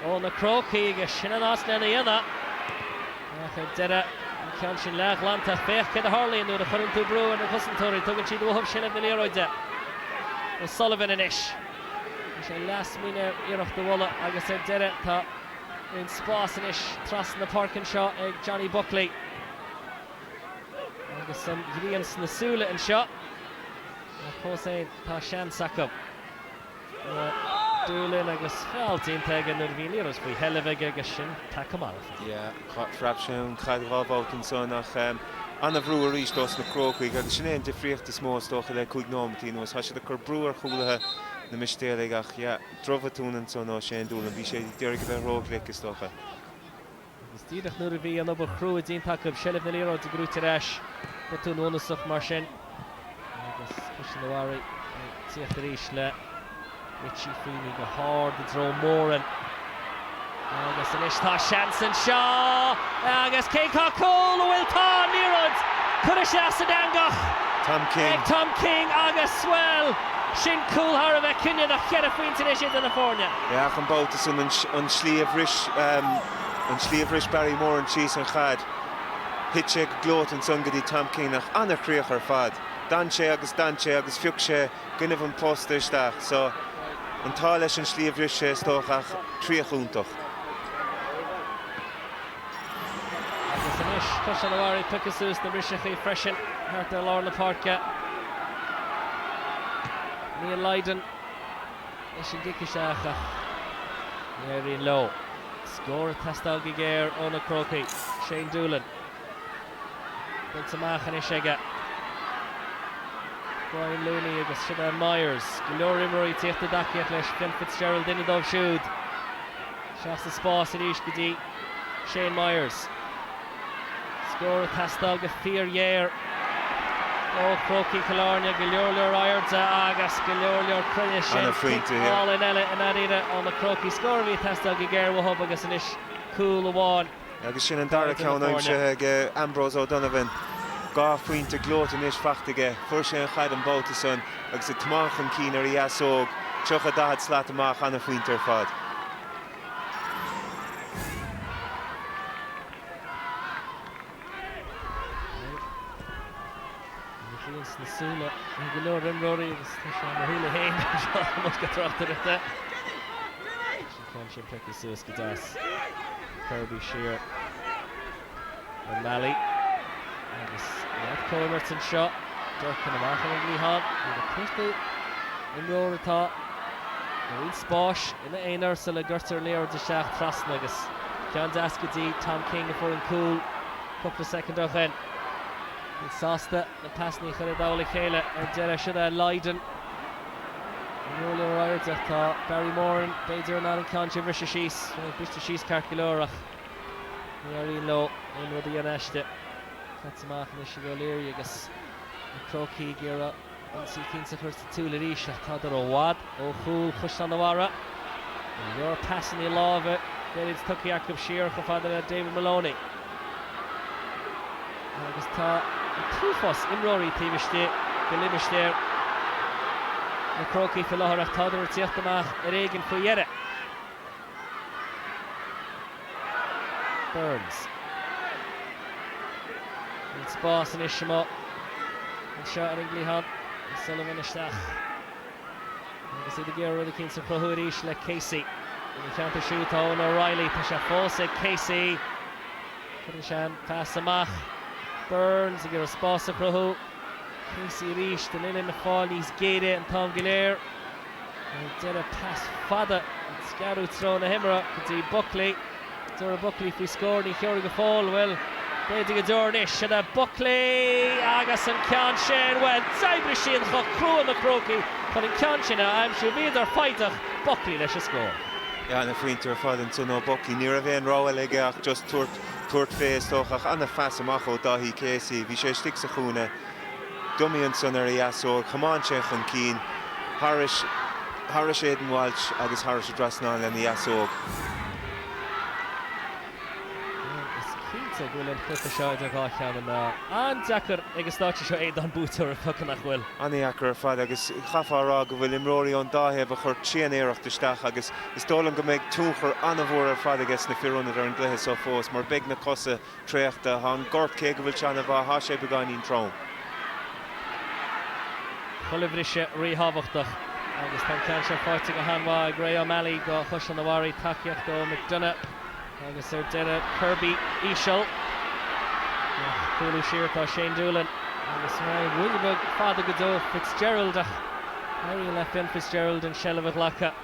ó na Crócaigh agus sin an áit lena dhéanamh. Ach ar deireadh, an ceann sin leathghlanta, ach féach céard a tharlaíonn nuair a chuireann tú brú ar na cosantóirí, tugann siad uathub seilbh na liathróide. O'Sullivan anois. Bhí sé leath-smaoineamh ar iarracht a bhualadh agus ar deireadh tá roinnt spás anois trasna na páirce anseo ag Johnny Buckley. Agus an ghrian sna súile anseo, ach fós fhéin tá seans acu. Doolan agus feall déanta aige nuair a bhí an liathróid faoi sheilbh aige agus sin tagtha marbh. Yeah, phreab sé an caid dhá bhabhta ansan ach ana-bhrú aríst ós na Crócaigh agus sin é an difríocht is mó is dócha le cúig nóimeataí anuas. Tá siad ag cur brú ar chúlaithe na Mistéalaigh ach, yeah, drochbhotún ansan ó Shane Doolan. Bhí sé d'iarraidh a bheith róghlic is dócha. Agus díreach nuair a bhí an obair chrua déanta acu, seilbh na liathróide, a bhrúitear ar ais botún bunúsach mar sin agus Caisleán a' Bharra ag tíocht arís le Richie Feeney go hard i dtreo Moran agus anois tá seans anseo agus cé cá cúl a bhfuil tá an liathróid curtha sa eangach ag Tom King agus, bhuel, sin cúl thar a bheith cinniúnach, ceithre phointe anois idir na foirne. Féach an babhta san an tslí a bhris an tslí a bhris Barry Moran síos an chaid. Thit sé go gleoite ansan go dtí Tom King ach an-chríoch ar fad. D'fhan sé agus d'fhan sé agus phioc sé cúinne an phosta isteach so an t-ádh leis an slí a bhris sé is dócha ach críoch iontach. Agus anois Caisleán a' Bharra ag piocadh suas na mbriseachaí freisin thart ar lár na páirce. Neil Lydon. leis an gcic isteach ach ní éiríonn leo. Scór ag teastáil go géar ó na Crócaigh. Shane Doolan buailte amach anois aige. Brian Looney agus Shane Myers, go leor imreoirí ag tíocht i dtacaíocht leis. Fionn Fitzgerald duine díobh siúd. Isteach sa spás arís go dtí Shane Myers. Scór ag teastáil go fíorghéar ó Chrócaigh Chill Airne. Go leor leor airde agus go leor leor cruinnis. Cúilín álainn eile i ndáiríre ó na Crócaigh. Scór a bhí ag teastáil go géar uathub agus anois cúl amháin. Agus sin an dara ceann aimsithe ag Ambrose O'Donovan. Dhá phointe gleoite anois faighte aige. Fuair sé an chaid an babhta san agus ag tiomáint chun cinn ar a dheasóg, 30, 40 slat amach. An-phointe ar fad. An ghrian sna súile ag go leor imreoirí agus tá sé ar mo shúile féin anseo i mbosca tráchtaireachta. An ceann sin feicthe suas go deas. Kirby siar. O'Malley agus neart comhimirt anseo. Durcan amach ar an gcliathán. Nuair a feictear imreoir atá i roinnt spáis ina aonar sula gcuirtear an liathróid isteach trasna agus ceann deas go dtí Tom King a fuair an cúl cúpla soicind ó shin. Iad sásta na pasannaí a chur i dtoll a chéile ar deireadh. Siar go Lydon go leor airde ach tá Barry Moran b'fhéidir in ann an ceann sin a bhriseadh síos. Sin é briste síos ceart go leor ach. Ní éiríonn leo aon rud a dhéanamh aisti. Caite amach anois ag O'Leary agus na Crócaigh ag iarraidh ionsaí eicínt a chur sa tsiúil arís ach tádar i bhfad ó chúl Chaisleán a' Bharra. Go leor pasannaí láimhe gairid tugtha acu siar chomh fada le David Maloney agus tá an t-uafás imreoirí taobh istigh de limistéar na Crócaigh faoi láthair ach tádar ag tíocht amach ar éigin faoi dheireadh. Burns. Níl spás anois amuigh anseo ar an gcliathán. O'Sullivan isteach. Agus iad ag iarraidh rud éicint a chruthú arís le Casey. Ina theannta siúd tá Eoin O'Reilly. Tá sé fós ag Casey. Cuireann sé an pas amach. Burns ag iarraidh spás a chruthú. Casey arís, an uillinn ag fáil níos géire an t-am go léir. Ar deireadh pas fada ag scaradh treo na himeartha go dtí Buckley. An dtabharfaidh Buckley faoi scór, ní thabharfaidh go fóill, bhuel, b'fhéidir go dtabharfaidh anois. Sin é Buckley agus an ceann sin, bhuel, d'oibrigh siad chomh crua, na Crócaigh, chun an ceann sin a aimsiú. Bhíodar foighneach, Buckley leis an scór. Ana-phointe ar fad ansan ó Buckley. Ní raibh aon rogha aige ach just tabhairt fé, is dócha, ach ana-phas amach ó Daithí Casey. Bhí sé istigh sa chúinne. Dummy ansan ar a dheasóig, chomáin sé chun cinn thairis, thairis Aidan Walsh agus thairis an dtrasnán lena dheasóig. Is cinnte go bhfuil an cluiche seo idir dhá cheann na meá. An-deacair ag an staid seo, a Aodáin, buaiteoir a phiocadh, nach bhfuil? Ana-dheacair ar fad agus chaithfeá a rá go bhfuil imreoirí ón dá thaobh ag cur tréan-iarracht isteach agus is dóigh liom go mbeidh tionchar ana-mhór ar fad aiges na fir ionaid ar an gcluiche seo fós mar beidh na cosa traochta tá an gort cé go bhfuil sé ana-mhaith tá sé beagáinín trom. Chuile bhriseadh ríthábhachtach agus tá an ceann seo faighte go han-mhaith ag Gary O'Malley do Chaisleán an Bharraigh, tacaíocht ó McDonagh agus ar deireadh Kirby íseal ach cúlú siar atá Shane Doolan agus ró-fhada go deo Fitzgerald ach éiríonn le Fionn Fitzgerald an seilbh a ghlacadh.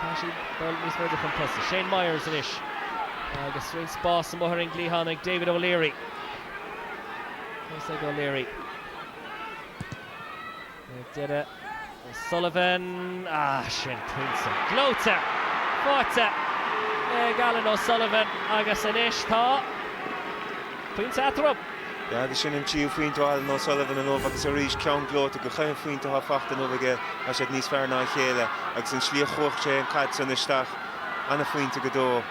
Tá siad ag dul níos faide chun tosaigh. Shane Myers anois agus roinnt spás amuigh ar an gcliathán ag David O'Leary. Fós ag O'Leary. Ar deireadh O'Sullivan. Ah, sin pointe. Gleoite! Faighte! Ag Alan O'Sullivan agus anois tá... Pointe eatarthu. Sea agus sin an tríú phointe ó Alan O'Sullivan inniu agus arís ceann gleoite gach aon phointe atá faighte inniu aige, tá siad níos fearr ná a chéile agus an tslí a chaith sé an caid san isteach an-phointe go deo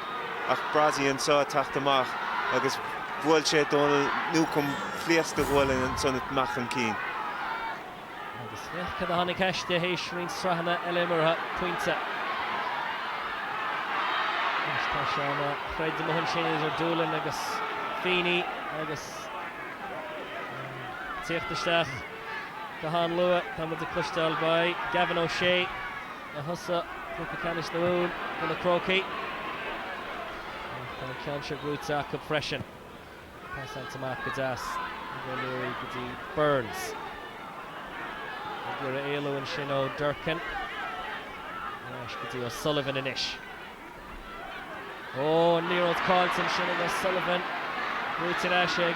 ach Brosie anso ag teacht amach agus bhuail sé Dónal Newcombe pléasc de ghualainn ansan amach chun cinn. Agus féach cad a tháinig aisti tar éis roinnt sraitheanna eile imeartha, pointe. Anois tá sé ina throid amuigh ansin idir Doolin agus Feeney agus ag tíocht isteach go han luath. Tá muid ag cloisteáil beidh. Gavin O'Shea a thosaigh cluiche ceannais na Mumhan do na Crócaigh. Ach tá an ceann seo brúite acu freisin. Pasáilte amach go deas ag O'Leary go dtí Burns. Ag iarraidh éalú ansin ó Durcan. Ar ais go dtí O'Sullivan anois. Ó, an liathróid caillte ansin ag O'Sullivan. Brúite ar ais ag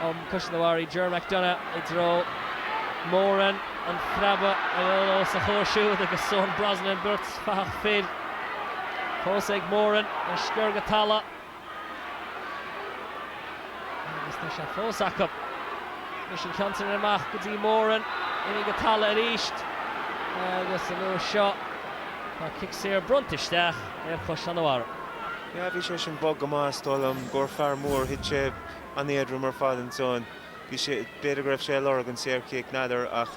um Caisleán an Bharraigh Ger McDonagh i dtreo Moran. An phreabadh os a chomhair siúd agus Eoin Brosnan beirt fathach fir. Fós ag Moran, a sciorr go talamh. Agus tá sé fós acu. Anois an ceann sin amach go dtí Moran, imithe go talamh arís agus an uair seo tá cic saor bronnta isteach ar Chaisleán an Bharraigh. Yeah bhí sé sin bog go maith is dóigh liom gur fear mór thit sé an-éadrom ar fad ansan bhí sé b'fhéidir go raibh sé ag lorg an saorchic n'fheadar ach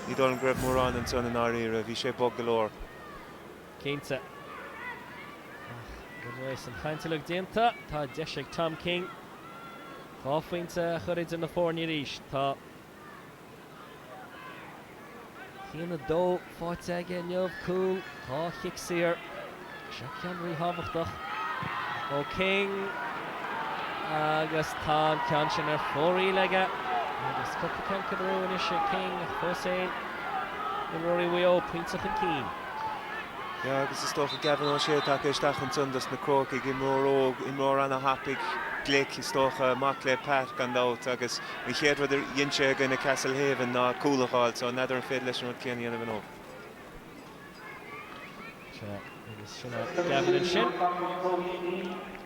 ní dóigh liom go raibh mórán ansan i ndáiríre bhí sé bog go leor. Cinnte. Ach tar éis an chaint uilig déanta, tá deis ag Tom King dhá phointe a chur idir na foirne arís. Tá a haon a dó faighte aige inniu, cúl, dhá chic saor. Seo ceann ríthábhachtach ó King agus tá an ceann sin ar fóraoil aige. Agus cúpla ceann curtha amú anois ag King ach fós fhéin imreoirí Mhaigh Eo pointe chun cinn. Yeah, agus is dócha Gavin O'Shea tagtha isteach ansan dos na Crócaigh, imreoir óg, imreoir ana-thapaidh, glic, is dócha, mac le Pat gan dabht agus an chéad rud a dhein sé i gcoinne Castlehaven ná cúl a dh'fháil so n'fheadar an féidir leis an rud céanna a dhéanamh inniu. Sea, agus sin é Gavin ansin.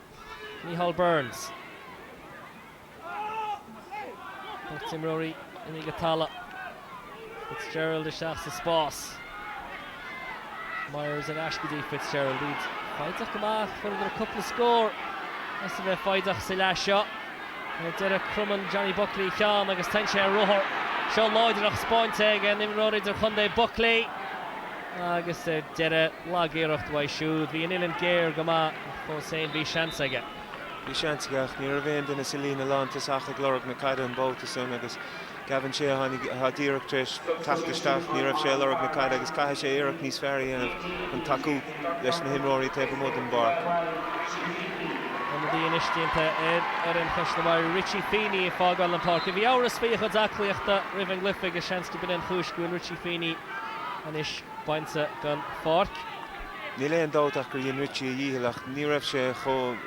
Micheál Burns. Beirt imreoirí imithe go talamh. Fitzgerald isteach sa spás. Myers ar ais go dtí Fitzgerald iad foighdeach go maith. Fuaireadar cúpla scór as a bheith foighdeach sa leath seo. Ar deireadh cromann Johnny Buckley a cheann agus téann sé ar ruathar. An-láidreacht spáinte ag an imreoir idirchontae, Buckley, agus ar deireadh lagiarracht uaidh siúd. Bhí an uillinn géar go maith. Ach fós fhéin bhí seans aige. Bhí seans aige ach ní raibh aon duine sa líne lántosach ag lorg na caide an babhta san agus Gavin Shea atá díreach tar éis teacht isteach. Ní raibh sé ag lorg na caide agus caithfidh sé iarracht níos fearr a dhéanamh chun tacú leis na himreoirí taobh amuigh den bpáirc. Ionadaí anois déanta ar fhoireann Chaisleán an Bharraigh, Richie Feeney, ag fágáil an pháirc. Bhí amhras faoi a chuid aclaíochta roimh an gcluiche agus seans go b'in an chúis go bhfuil Richie Feeney anois bainte den pháirc. Níl aon dabht ach gur dhein Richie a dhícheall ach ní raibh sé chomh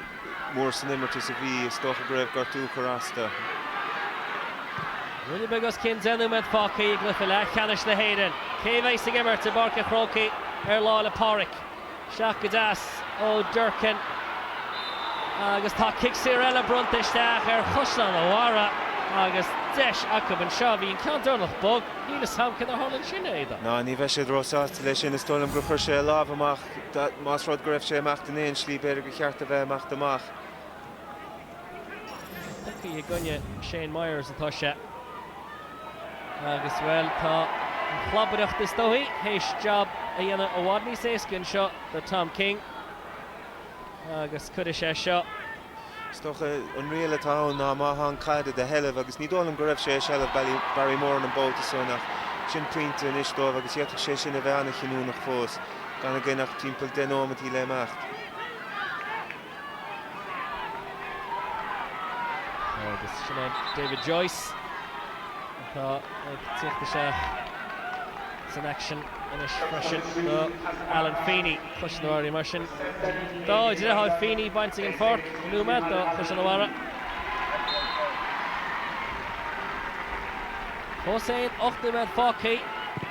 mór san imirt is a bhí, is dócha go raibh gortú ag cur as dó. Ruainne beag os cionn deich nóiméad fágtha i gcluiche leathcheannais na hÉireann. Cé a bheidh ag imirt i bPáirc an Chrócaigh ar Lá 'le Pádraig? Isteach go deas ó Durcan agus tá cic saor eile bronnta isteach ar Chaisleán a' Bharra agus deis acu anseo. Bhí an ceann deireanach bog. Níl fhios a'm céard a tharla ansin, a Aodáin. Á ní bheidh siad ró-sásta leis sin. Is dóigh liom gur chuir sé a lámh amach, más rud go raibh sé ag imeacht in aon slí, b'fhéidir gur cheart dó bheith ag imeacht amach. Tugtha i gcoinne Shane Myers atá sé agus, bhuel, tá an chlabaireacht is dóigh théis jab a dhéanamh i bhfad níos éasca anseo do Tom King agus cuirfidh sé seo, Is dócha an riail atá ann ná má thá an chaid i do sheilbh agus ní dóigh liom go raibh sé i seilbh Barry Moran an babhta sin ach sin pointe anois dóibh agus d'fhéadfadh sé sin a bheith an-chinniúnach fós gan againn ach timpeall deich neomataí le imeacht. Agus sin é David Joyce atá ag teacht isteach san aicsean anois freisin do Alan Feeney. Caisleán a' Bharra mar sin dá dheartháir Feeney bainte den pháirc an nóiméad do Chaisleán a' Bharra. Fós féin, ocht nóiméad fágtha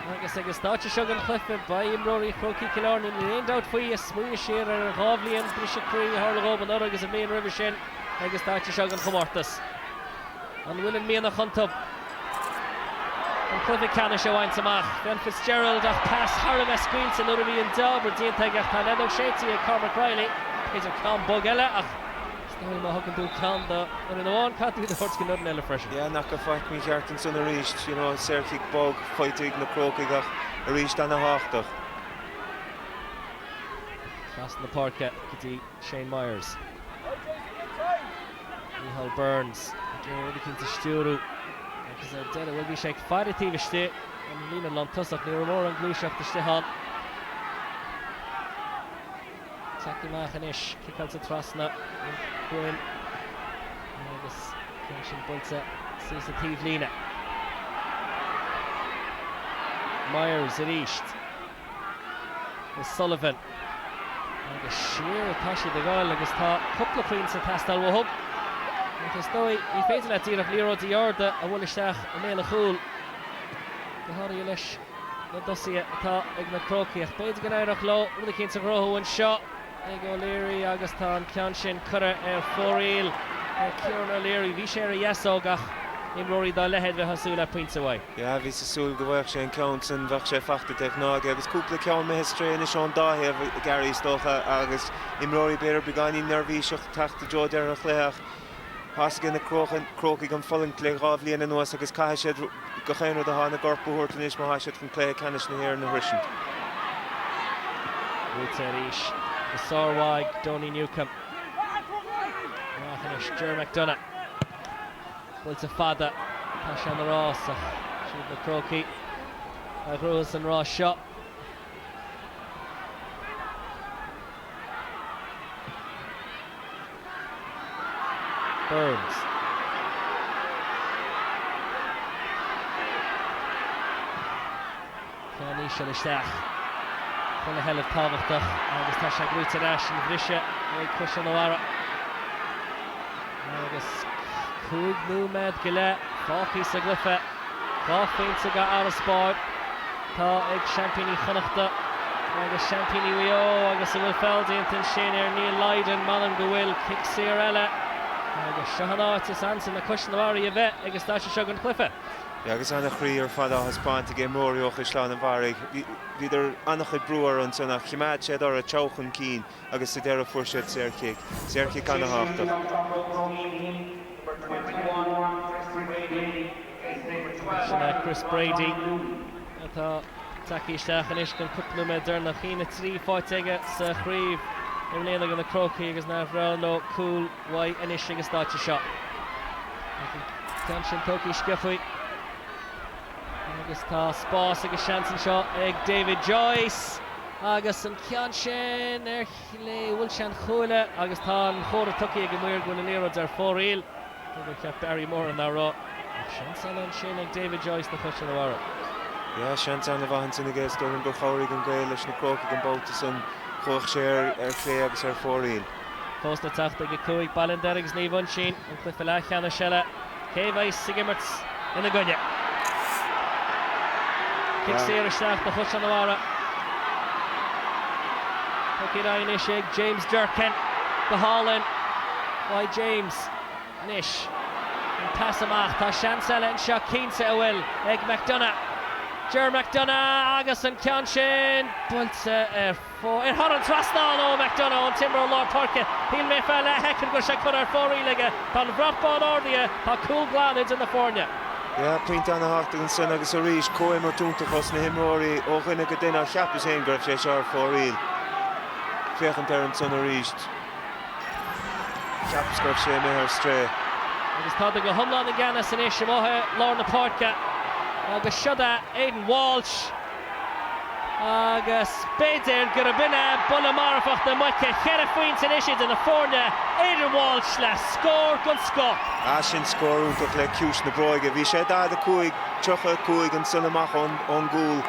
agus ag an stáitse seo den chluiche, beidh imreoirí Chrócaigh Chill Airne, níl aon dabht faoi, ag smaoineamh siar ar an dhá bhliain briseadh croí a tharla dhóibh anuraidh agus an bhliain roimhe sin ag an stáitse seo den chomórtas. An bhfuil an mianach iontu chun cluiche ceannais a bhaint amach? Fionn Fitzgerald ach pas thar a bheith scaoilte nuair a bhí an jab déanta aige ach tá an fheadóg séidte ag Cormac Reilly. B'fhéidir ceann bog eile ach is dóigh liom má thugann tú ceann do fhoireann amháin caithfidh tú iad a thabhairt don fhoireann eile freisin. Yeah ní fheaca faic mícheart ansan arís. You know saorchic bog faighte ag na Crócaigh ach arís ana-thábhachtach. Trasna na páirce go dtí. Shane Myers. Micheál Burns ag iarraidh rud eicínt a stiúrú agus ar deireadh, bhuel, bhí sé ag faire taobh istigh den líne lántosach. Ní raibh mórán gluaiseacht istigh ann. Tagtha amach anois, ciceáilte trasna an chúil agus ceann sin buailte suas an taobhlíne. Myers arís. O'Sullivan. Agus siar atá siad ag goil agus tá cúpla cúilín ag teastáil uathu. Ach is dóigh, ní féidir leat díreach liathróidí arda a bhuail isteach i mbéal an chúil, go háirithe leis na tosaithe atá ag na Crócaigh. Ach b'fhéidir go n-éireodh leo rud éicint a chruthú anseo. ag O'Leary agus tá an ceann sin curtha ar fóraoil ag Kieran O'Leary. Bhí sé ar a dheasóg ach imreoirí dá leithéid bheifeá ag súil le pointe uaidh. Yeah, bhíos ag súil go bhfaigheadh sé an ceann sin, bheadh sé faighte de ghnáth aige agus cúpla ceann imithe ar strae anois ón dá thaobh, Gary, is dócha agus imreoirí, b'fhéidir, beagáinín neirbhíseach teacht i dtreo deireadh an chluiche ach. Tá a fhios ag na Crócaigh an fhulaingt le dhá bhliain anuas agus caithfidh siad gach aon rud atá ina gcorp a thabhairt anois má thá siad chun cluiche ceannais na hÉireann a shroisint. Buaite arís go sármhaith ag Donie Newcombe. Amach anois Ger McDonagh. Buailte fada. Tá sé ina rás ach siad na Crócaigh a ghnóthas an rás seo. Burns. Ceann íseal isteach chun a sheilbh tábhachtach agus tá sé gnóthaithe ar ais an bhriseadh ag Caisleán an Bharraigh. Agus cúig nóiméad go leith fágtha sa gcluiche. Dhá phointe d'fharasbarr atá ag seaimpíní Chonnacht agus seaimpíní Mhaigh Eo agus an bhfuil feall déanta ansin ar Neil Lydon. M'anam go bhfuil cic saor eile agus seo an áit is ansa le Caisleán an Bharraigh a bheith ag an stáitse seo den chluiche. Agus ana chroí ar fad á thaispeáint ag imreoirí ó Chaisleán an Bharraigh, bhíodar ana chuid brú orthu ansin ach chimeád siad orthu ag teacht chun cinn. agus sa deireadh fuair siad saorchic, saorchic ana-thábhachtach. Chris Brady atá tagtha isteach anois don cúpla nóiméad deireanach. A haon a 3 faighte aige sa chraobh i mbliana ag na Crócaigh agus nár bhreá leo cúl uaidh anois ag an stáitse seo. An ceann sin tógtha, sciobtha. Agus tá spás agus seans anseo ag David Joyce agus an ceann sin ar chlé bhuail sé an chuaille agus tá an comhartha tugtha ag an maor go bhfuil an liathróid ar fóraoil. Cé gur cheap Barry Moran nach raibh ach seans eile ansin ag David Joyce do Chaisleán an Bharraigh. Yeah, seans ana mhaith ansin aige is déarfainn gur chabhraigh an ghaoth leis na Crócaigh an babhta san. Chuaigh sé ar chlé agus ar fóraoil. Fós le teacht ag a 5 Ballinderry agus Naomh Uinseann, an cluiche leathcheannais eile, cé a bheas ag imirt ina gcoinne. Cic saor isteach do Chaisleán an Bharraigh. Tugtha ar aghaidh anois ag James Durcan. Go hálainn, uaidh James. Anois, an pas amach, tá seans eile anseo, cinnte a bhfuil, ag McDonagh. Ger McDonagh agus an ceann sin buailte ar. Ard thar an trasnán ó McDonagh an t-imreoir lár páirce, shíl mé ar feadh leathshoicind go raibh sé curtha ar fóraoil aige. Tá an brat bán ardaithe, tá cúl glan idir na foirne. Yeah, pointe ana-thábhachtach ansan agus arís comhimirt iontach ós na himreoirí ó dhuine go duine ach cheapas féin go raibh sé seo ar fóraoil. Féachaint air ansan arís, cheapas go raibh sé imithe ar strae. Agus táid go hiomlán i gceannas anois amuigh i lár na páirce agus seod é Aidan Walsh. agus b'fhéidir gurb in é buille marfach na muice, cheithre phointe anois idir na foirne, Aidan Walsh le scór den scoth. Ah sin scór iontach le ciumhais na bróige. Bhí sé 45, 35 ansan amach ón gcúl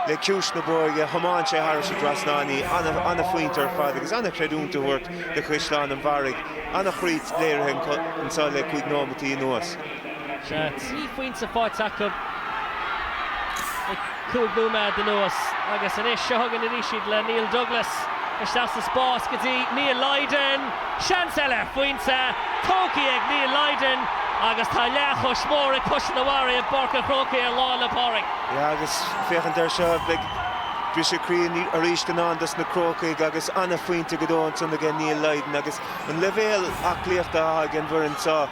le ciumhais na bróige, thiomáin sé thairis an dtrasnán í, an-phointe ar fad agus an-chreidiúint a thabhairt do Chaisleán an Bharraigh, an-ghrit léirithe anso le cúig nóimeataí anuas. Tá trí phointe faighte acu le cúig nóiméad anuas agus anois seo chugainn anois iad le Neil Douglas isteach sa spás go dtí Neil Lydon. Seans eile ar phointe, tógtha ag Neil Lydon agus tá leathchos mhór ag Caisleán an Bharraigh i bPáirc an Chrócaigh ar Lá 'le Pádraig. Yeah agus féachaint ar seo, beidh briseadh croí arís i ndán dos na Crócaigh agus an-phointe go deo ansan aige Neil Lydon agus an leibhéal aclaíochta atá ag an bhfoireann seo,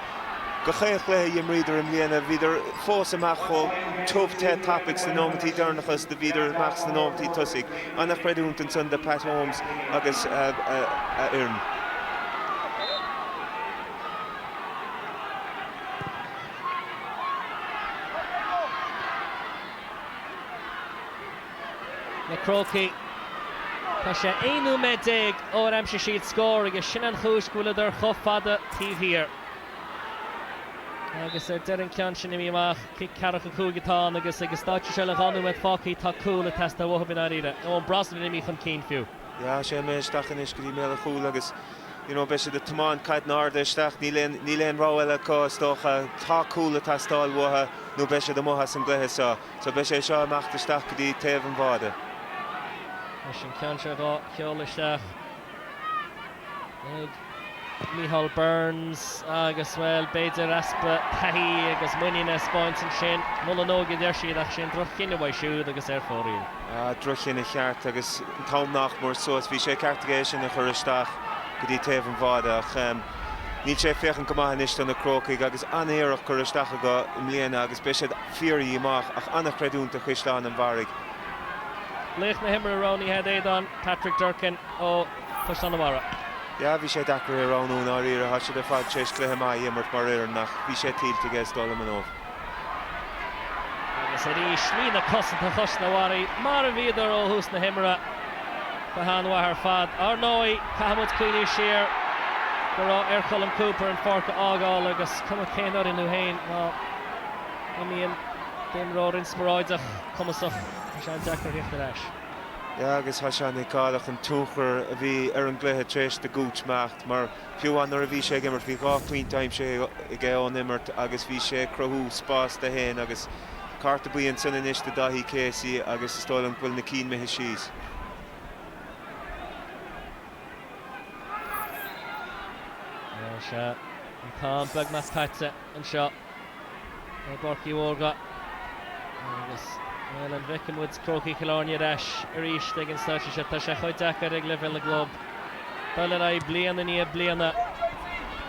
Gach aon chluiche a imríodar i mbliana bhíodar fós amach chomh tiubh te tapaidh sna nóimeataí deirneacha is do bhíodar amach sna nóimeataí tosaigh. An-chreidiúint ansan do Pat Holmes agus a fhoireann. Na Crócaigh, tá sé 11 nóiméad ó ar aimsigh siad scór agus sin an chúis go bhfuileadar chomh fada taobh thiar. Agus ar deireadh an ceann sin imithe amach, cic ceathracha cúig atá ann agus ag an stáitse seo le dhá nóiméad fágtha tá cúl ag teastáil uathub i ndáiríre, Eoin Brosnan imithe chun cinn fiú. Yeah, sé imithe isteach anois go dtí mbéal an chúil agus you know, beidh siad ag tiomáint caideanna arda isteach, níl aon, níl aon rogha eile acu is dócha, tá cúl ag teastáil uathu nó beidh siad amuigh as an gcluiche seo. So beidh sé seo ag imeacht isteach go dtí taobh an bháide. Leis an ceann seo dhá sheoladh isteach ag Micheál Burns agus, bhuel, b'fhéidir easpa taithí agus muiníne a 'speáint ansin. Mol an óige a deir siad ach sin droch-chinneadh uaidh siúd agus é ar fóraoil. Ah, droch-chinneadh ceart agus an t-am nach mór suas. Bhí sé ceart aige é sin a chur isteach go dtí taobh an bháide ach níl sé ag féachaint go maith anois do na Crócaigh agus an-iarracht curtha isteach acu i mbliana agus beidh siad Chiarraí amach ach an-chreidiúint do Chaisleán an Bharraigh. Laoch na hImeartha roghnaithe agat Aodán Patrick Durcan ó Chaisleán an Bharraigh. Yeah, bhí sé deacair é a roghnú i ndáiríre. Tá siad ar fad tar éis cluiche maith a imirt mar fhoireann ach bhí sé tuillte aige is dóigh liom inniu. Agus arís, líne cosanta Chaisleán an Bharraigh mar a bhíodar ó thús na himeartha, go han-mhaith ar fad. Ar ndóigh, caithfimid cuimhniú siar go raibh ar Cholm Cooper an pháirc a fhágáil agus cuma cén fhoireann thú féin má, imíonn d'imreoir inspioráideach, cumasach, tá sé an-deacair theacht ar ais. Yeah agus tá sé an-fheiceálach an tionchar a bhí ar an gcluiche tar éis do Gooch imeacht mar fiú amháin nuair a bhí sé ag imirt bhí dhá phointe aimsithe aige ón imirt agus bhí sé ag cruthú spás dó fhéin agus cárta buí ansin anois do Dáithí Casey agus is dóigh liom go bhfuil na cinn imithe síos. Tá sé an t-am beag mas caite anseo. i bPáirc Uí Mhórdha agus bhuel an bhfeicfidh muid Crócaigh Chill Airne ar ais arís ag an stáitse seo? Tá sé chomh deacair ag leibhéal na gclub dul ar aghaidh bliain i ndiaidh bliana,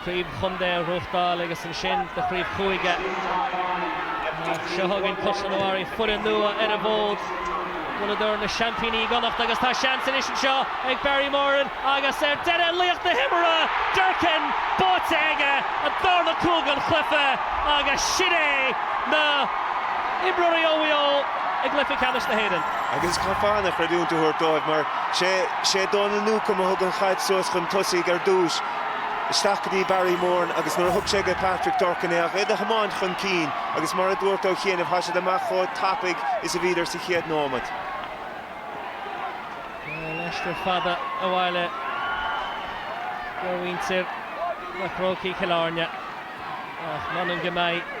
craobh chontae a ghnóthachtáil agus ansin do chraobh chúige ach seo chugainn Caisleán an Bharraigh, foireann nua ar an bhfód, bhuaileadar na seaimpíní i gConnacht agus tá seans anois anseo ag Barry Moran. Agus ar deireadh laoch na himeartha, Durcan, báite aige an darna cúl den chluiche agus sin é na himreoirí ó Mhaigh Eo i gcluiche ceannais na hÉireann. Agus caithfear an-chreidiúint a thabhairt dóibh mar sé Dónal Newcombe a thug an chaid suas chun tosaigh ar dtús, isteach go dtí Barry Moran agus nuair a thug sé go Patrick Durcan é ach iad a thiomáint chun cinn agus mar a dúirt ó chianaibh, thá siad amach chomh tapaidh is a bhíodar sa chéad nóimeat. Aistear fada abhaile do mhuintir na Crócaigh Chill Airne ach m'anam go mbeidh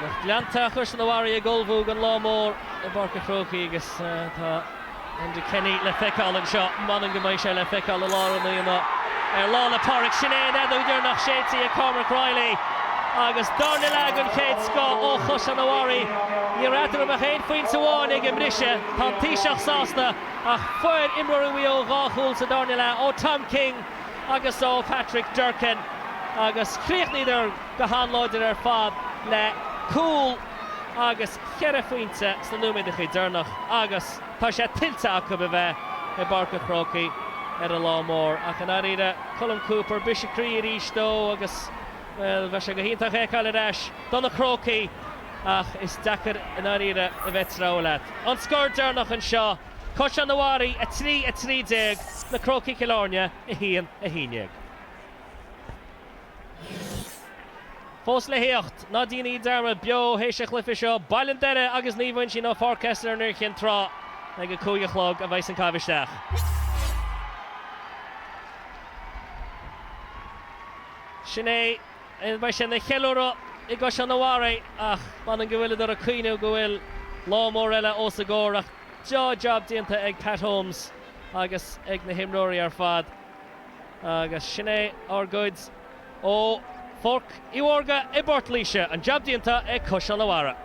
lucht leanta Chaisleán an Bharraigh ag ullmhú don lá mór i bPáirc an Chrócaigh agus tá Enda Kenny le feiceáil anseo. M'anam go mbeidh sé le feiceáil i lár an aonaigh ar Lá 'le Pádraig. Sin é an fheadóg dheireanach séidte ag Cormac Reilly agus darna leath den chéad scoth ó Chaisleán an Bharraigh, ní raibh eatarthu ach aon phointe amháin ag an mbriseadh. Tá an Taoiseach sásta ach fuair imreoirí Mhaigh Eo dhá chúl sa darna leath, ó Tom King agus ó Patrick Durcan, agus chríochnaíodar go han-láidir ar fad le cúl agus cheithre phointe sna nóiméadacha deireanach agus, Tá sé tuillte acu a bheith i bPáirc an Chrócaigh ar an lá mór ach, i ndáiríre, Colm Cooper, briseadh croí arís dó agus, bhuel, bheadh sé go hiontach é a fheiceáil ar ais do na Crócaigh ach is deacair i ndáiríre a bheith ag treabhadh leat. An scór deireanach anseo, Caisleán an Bharraigh 3, 13, Na Crócaigh-Cill Airne 1, 11. Fós le theacht, ná deinidh dearmad, beo th'éis an chluife seo, Baile an Doire agus Naomh Uinsionn ó Pháirc Esler in Iúr Chinn Trá. Ag a cúig a chlog a bheidhs an caitheamh isteach. Sin é beidh sé ina cheiliúradh i gCaisleán an Bharraigh ach m'anam go bhfuileadar ag cuimhniú go bhfuil lá mór eile os a gcomhair ach tá jab déanta ag Pat Holmes agus ag na himreoirí ar fad. Agus sin é ár gcuid ó Pháirc Uí Mhórdha i bPortlaoise, an jab déanta ag Caisleán an Bharraigh.